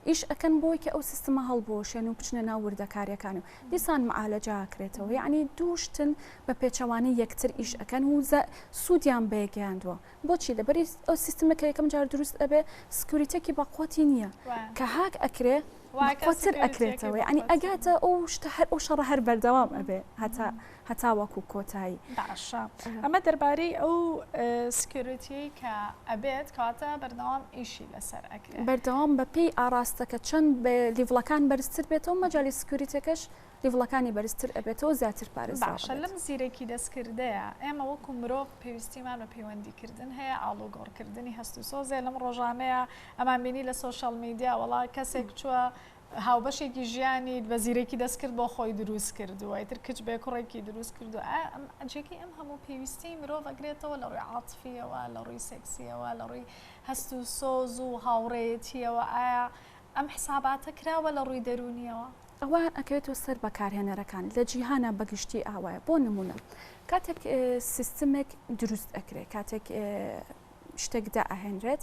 ئیش ئەکەن بۆی کە ئەو سیستمە هەڵبوەشێن و بچنە ناو وردەکاریەکان و دیسان معالەجە ئەکرێتەوە، یەعنی دوو شتن بە پێچەوانەی یەکتر ئیش ئەکەن و سودیان بەیەک گەیاندوە، بۆچی؟ لەبەرئ ئەو سیستمە کە یەکەم جار دروست ئەبێ سکیوریتیەکی بەقوەتی نیە کە هاک ئەکرێ بەقوەتر ئەکرێتەوە، یەعنی ئەگاتە ئەو شتە هەر ئەو شەڕە هەر بەردەوام ئەبێ هەتا هەتاوەکو کۆتایی. باشە ئەمە دەربارەی ئەو سکیۆریتیەی کە ئەبێت کەواتە بەردەوام ئیشی لەسەر ئەکرێت. بەردەوام بەپێی ئاراستەکە چەند لیڤڵەکان بەرزتر بێتەوە مەجای سکیۆریتەکەش لیڤڵەکانی بەرزتر ئەبێتەوە زیاتر پارێزراو ئەبێت. باشە لەم زیرەکی دەستکردەیە ئێمە وەکو مرۆڤ پێویستیمان بە پەیوەندیکردن هەیە، ئاڵوگۆڕکردنی هەست و سۆزێ لەم ڕۆژانەیە ئەمان بینی لە سۆشیاڵ میدیا وەڵا کەسێک چووە هاوبەشێکی ژیانیت بە زیرەکی دەستکرد بۆ خۆی دروست کردووە ئیتر کچ بێ کوڕێکی دروست کردو ئایا ئەم جێگەی ئەم هەموو پێویستیەی مرۆڤ ئەگرێتەوە لە ڕووی عاتفیەوە لە ڕووی سێکسیەوە لە ڕووی هەست و سۆز و هاوڕێیەتیەوە ئایا ئەم حساباتە کراوە لە ڕووی دەروونیەوە؟ ئەوە ئەکەوێتەوە سەر بەکارهێنەرەکان لە جیهانا بە گشتی ئاوایە بۆ نموونە کاتێک سیستمێک دروست ئەکرێ کاتێک شتێک دائەهێنرێت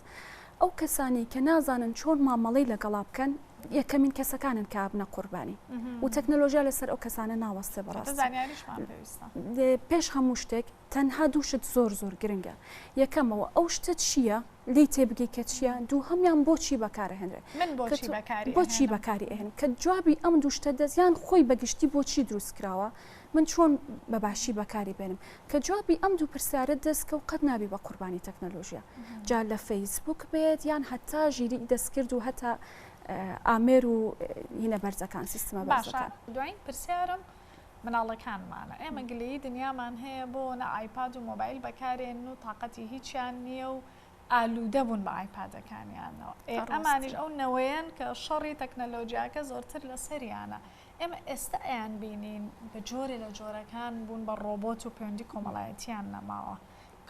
ئەو کەسانی کە نازانن چۆن مامەڵی لەگەڵا بکەن یەکەمین کەسەکانن کە بنە قوربانی و تەکنەلۆژیا لەسەر ئەو کەسانە ناوەستێ بەڕاست پێش هەموو شتێک تەنها دوو شت زۆر زۆر گرنگە یەکەمەوە ئەو شتە چییە لی تێبگەی کە چییە دوو هەمیان بۆچی بەکارهێنرێت بۆچی بەکاری ئەهن کە جوابی ئەم دوو شتە دەستیان خۆی بەگشتی بۆچی دروست کراوە من چۆن بە باشی بەکاری بێنم؟ کە جوابی ئەم دوو پرسیارت دەستکەوت قەت نابی بە قوربانی تەکنەلۆژیا جا لە فەیسبوک بێت یان هەتا ژیری دەستکرد و هەتا ئامێر و هینە بەرزەکان سیستمە باشە دوایین پرسیارم مناڵەکانمانە ئێمە گلەیی دنیامان هەیە بۆ نە ئایپاد و مۆبایل بەکارێن و تااقەتی هیچیان نییە و ئالوودە بوون بە ئایپادەکانیانەوە ئەمانیش ئەو نەوەیەن کە شەڕی تەکنەلۆژیاکە زۆرتر لە سەریانە ئێمە ئێستا ئەیانبینین بە جۆرێ لە جۆرەکان بوون بە ڕۆبۆت و پەیوەندی کۆمەڵایەتییان نەماوە.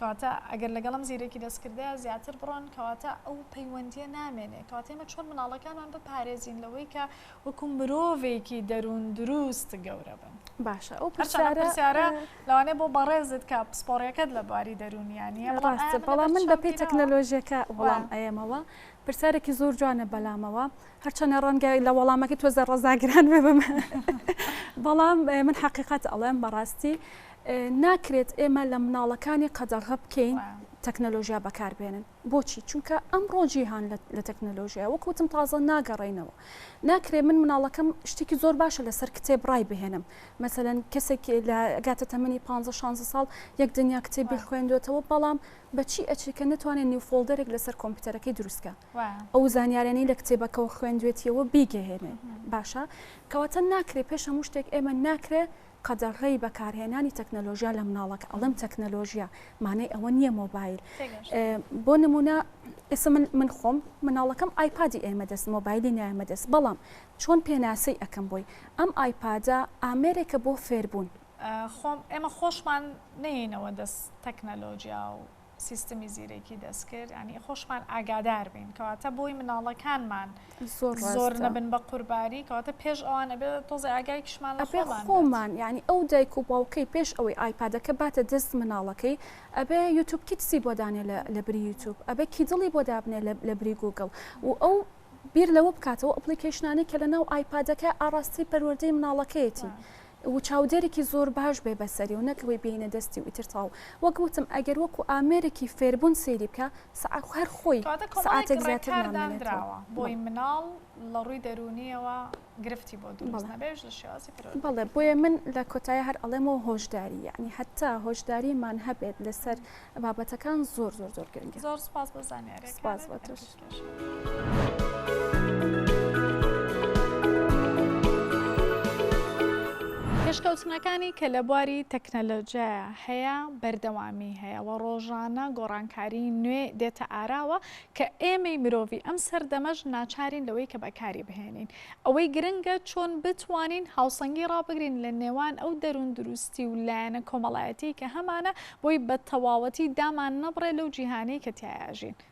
کەواتە ئەگەر لەگەڵ ئەم زیرەکی دەستکردەیە زیاتر بڕۆن، کەواتە ئەو پەیوەندییە نامێنێ. کەواتە ئێمە چۆن منداڵەکانمان بپارێزین لەوەی کە وەکوو مرۆڤێکی دەرووندروست گەورە بن؟ باشە ئەو پرسیارە. هەرچەند ئەم پرسیارە لەوانەیە بۆ بەڕێزت کە پسپۆڕییەکەت لە بواری دەروونییە نییە، بەڵام ئایا من لەبەر چاو گیراوە؟ بەڵام من بەپێی تەکنەلۆژییەکە وەڵام ئەیەمەوە. پرسیارێکی زۆر جوانە بەلامەوە. هەرچەنە ڕەنگە لە وەڵامەکەی تۆ زە ڕەزاگران ببم بەڵام من حەقیقەت ئەڵێم بەڕاستی ناکرێت ئێمە لە مناڵەکانی قەدەغە بکەین تەکنەلۆژیا بەکاربێنن بۆچی چونکە ئەم ڕۆژی هاان لە تەکنەلۆژیا وەک وتم تازە ناگەڕینەوە ناکرێ من مناڵەکەم شتێکی زۆر باشە لەسەر کتێب ڕای بهێنم مەمثلەن کەسێک لە گاتە تەمەنی 15 16 ساڵ یەک دنیا کتێبی خوێندوێتەوە بەڵام بە چی ئەچێ کە نەتوانێ نیو فۆڵدەرێک لەسەر کۆمپیوتەرەکەی دروست کا ئەو زانیارانەی لە کتێبەکەوە خوێندوێتیەوە بیگەهێنێ باشە کەواتە ناکرێ پێش هەموو شتێک ئێمە ناکرێ قەدەغەی بەکارهێنانی تەکنەلۆژیا لە مناڵەکە ئەڵم تەکنەلۆژیا مانای ئەوە نییە مۆبایل بۆ نمونە ئێستا من من خۆم مناڵەکەم ئایپادی ئێمە دەست مۆبایلی نایمە دەست بەڵام چۆن پێناسەی ئەەکەم بۆی ئەم ئایپادە ئامێرێکە بۆ فێربوون خۆم ئێمە خۆشمان نێینەوە دەست تەکنەلۆجیا و سیستمی زیرەکی دەستکرد ینی خۆشمان ئاگادار بین کەواتە بۆی مناڵەکانمان زۆر نەبن بە قورباری کەواتە پێش ئەوان ئەبێ تۆزی ئاگای کشمان لە خۆمان خۆمان ینی ئەو دایک و باوکەی پێش ئەوەی ئایپادەکە باتە دەست مناڵەکەی ئەبێ یوتوب کیتسی بۆ دانێ لە بری یوتوب ئەبێ کی دڵی بۆ دابنێ لە بری گوگل و ئەو بیر لەوە بکاتەوە ئەپلیکیشنانی کە لە ناو ئایپادەکە ئاراستەی پەروەردەی مناڵەکەیەتی. وچاودێرێکی زۆر باش بێ بەسەری و نەک ئەوەی بێینە دەستی و ئیتر تەواو وەک وتم ئەگەر وەکو ئامێرێکی فێربوون سەیری بکە سەعات هەر خۆی کەواتە کۆمەڵێک سەعاتێک زیاتر ڕێکار نامێنێتەوە دانراوە بۆی بەڵێ مناڵ لە ڕووی دەروونییەوە گرفتی بۆ دروست بەڵێ نەبێژ لە شێوازی بەڵێ پەروەردەکردنی بۆیە من لە کۆتاییا هەر ئەڵێم و هۆشداری یەعنی هەتا هۆشداریمان هەبێت لەسەر بابەتەکان زۆر زۆر زۆر گرنگە زۆر سوپاس بۆ زانیارییەکانت سوپاس بۆ تۆش. بەهیوای پێشکەوتنەکانی کە لە بواری تەکنەلۆجیایە هەیە بەردەوامی هەیە و ڕۆژانە گۆڕانکاری نوێ دێتە ئاراوە کە ئێمەی مرۆڤی ئەم سەردەمەش ناچارین لەوەی کە بەکاری بهێنین ئەوەی گرنگە چۆن بتوانین هاوسەنگی ڕابگرین لە نێوان ئەو دەروون دروستی و لایەنە کۆمەڵایەتی کە هەمانە بۆی بە تەواوەتی دامان نەبڕێ لەو جیهانی کە تایاژین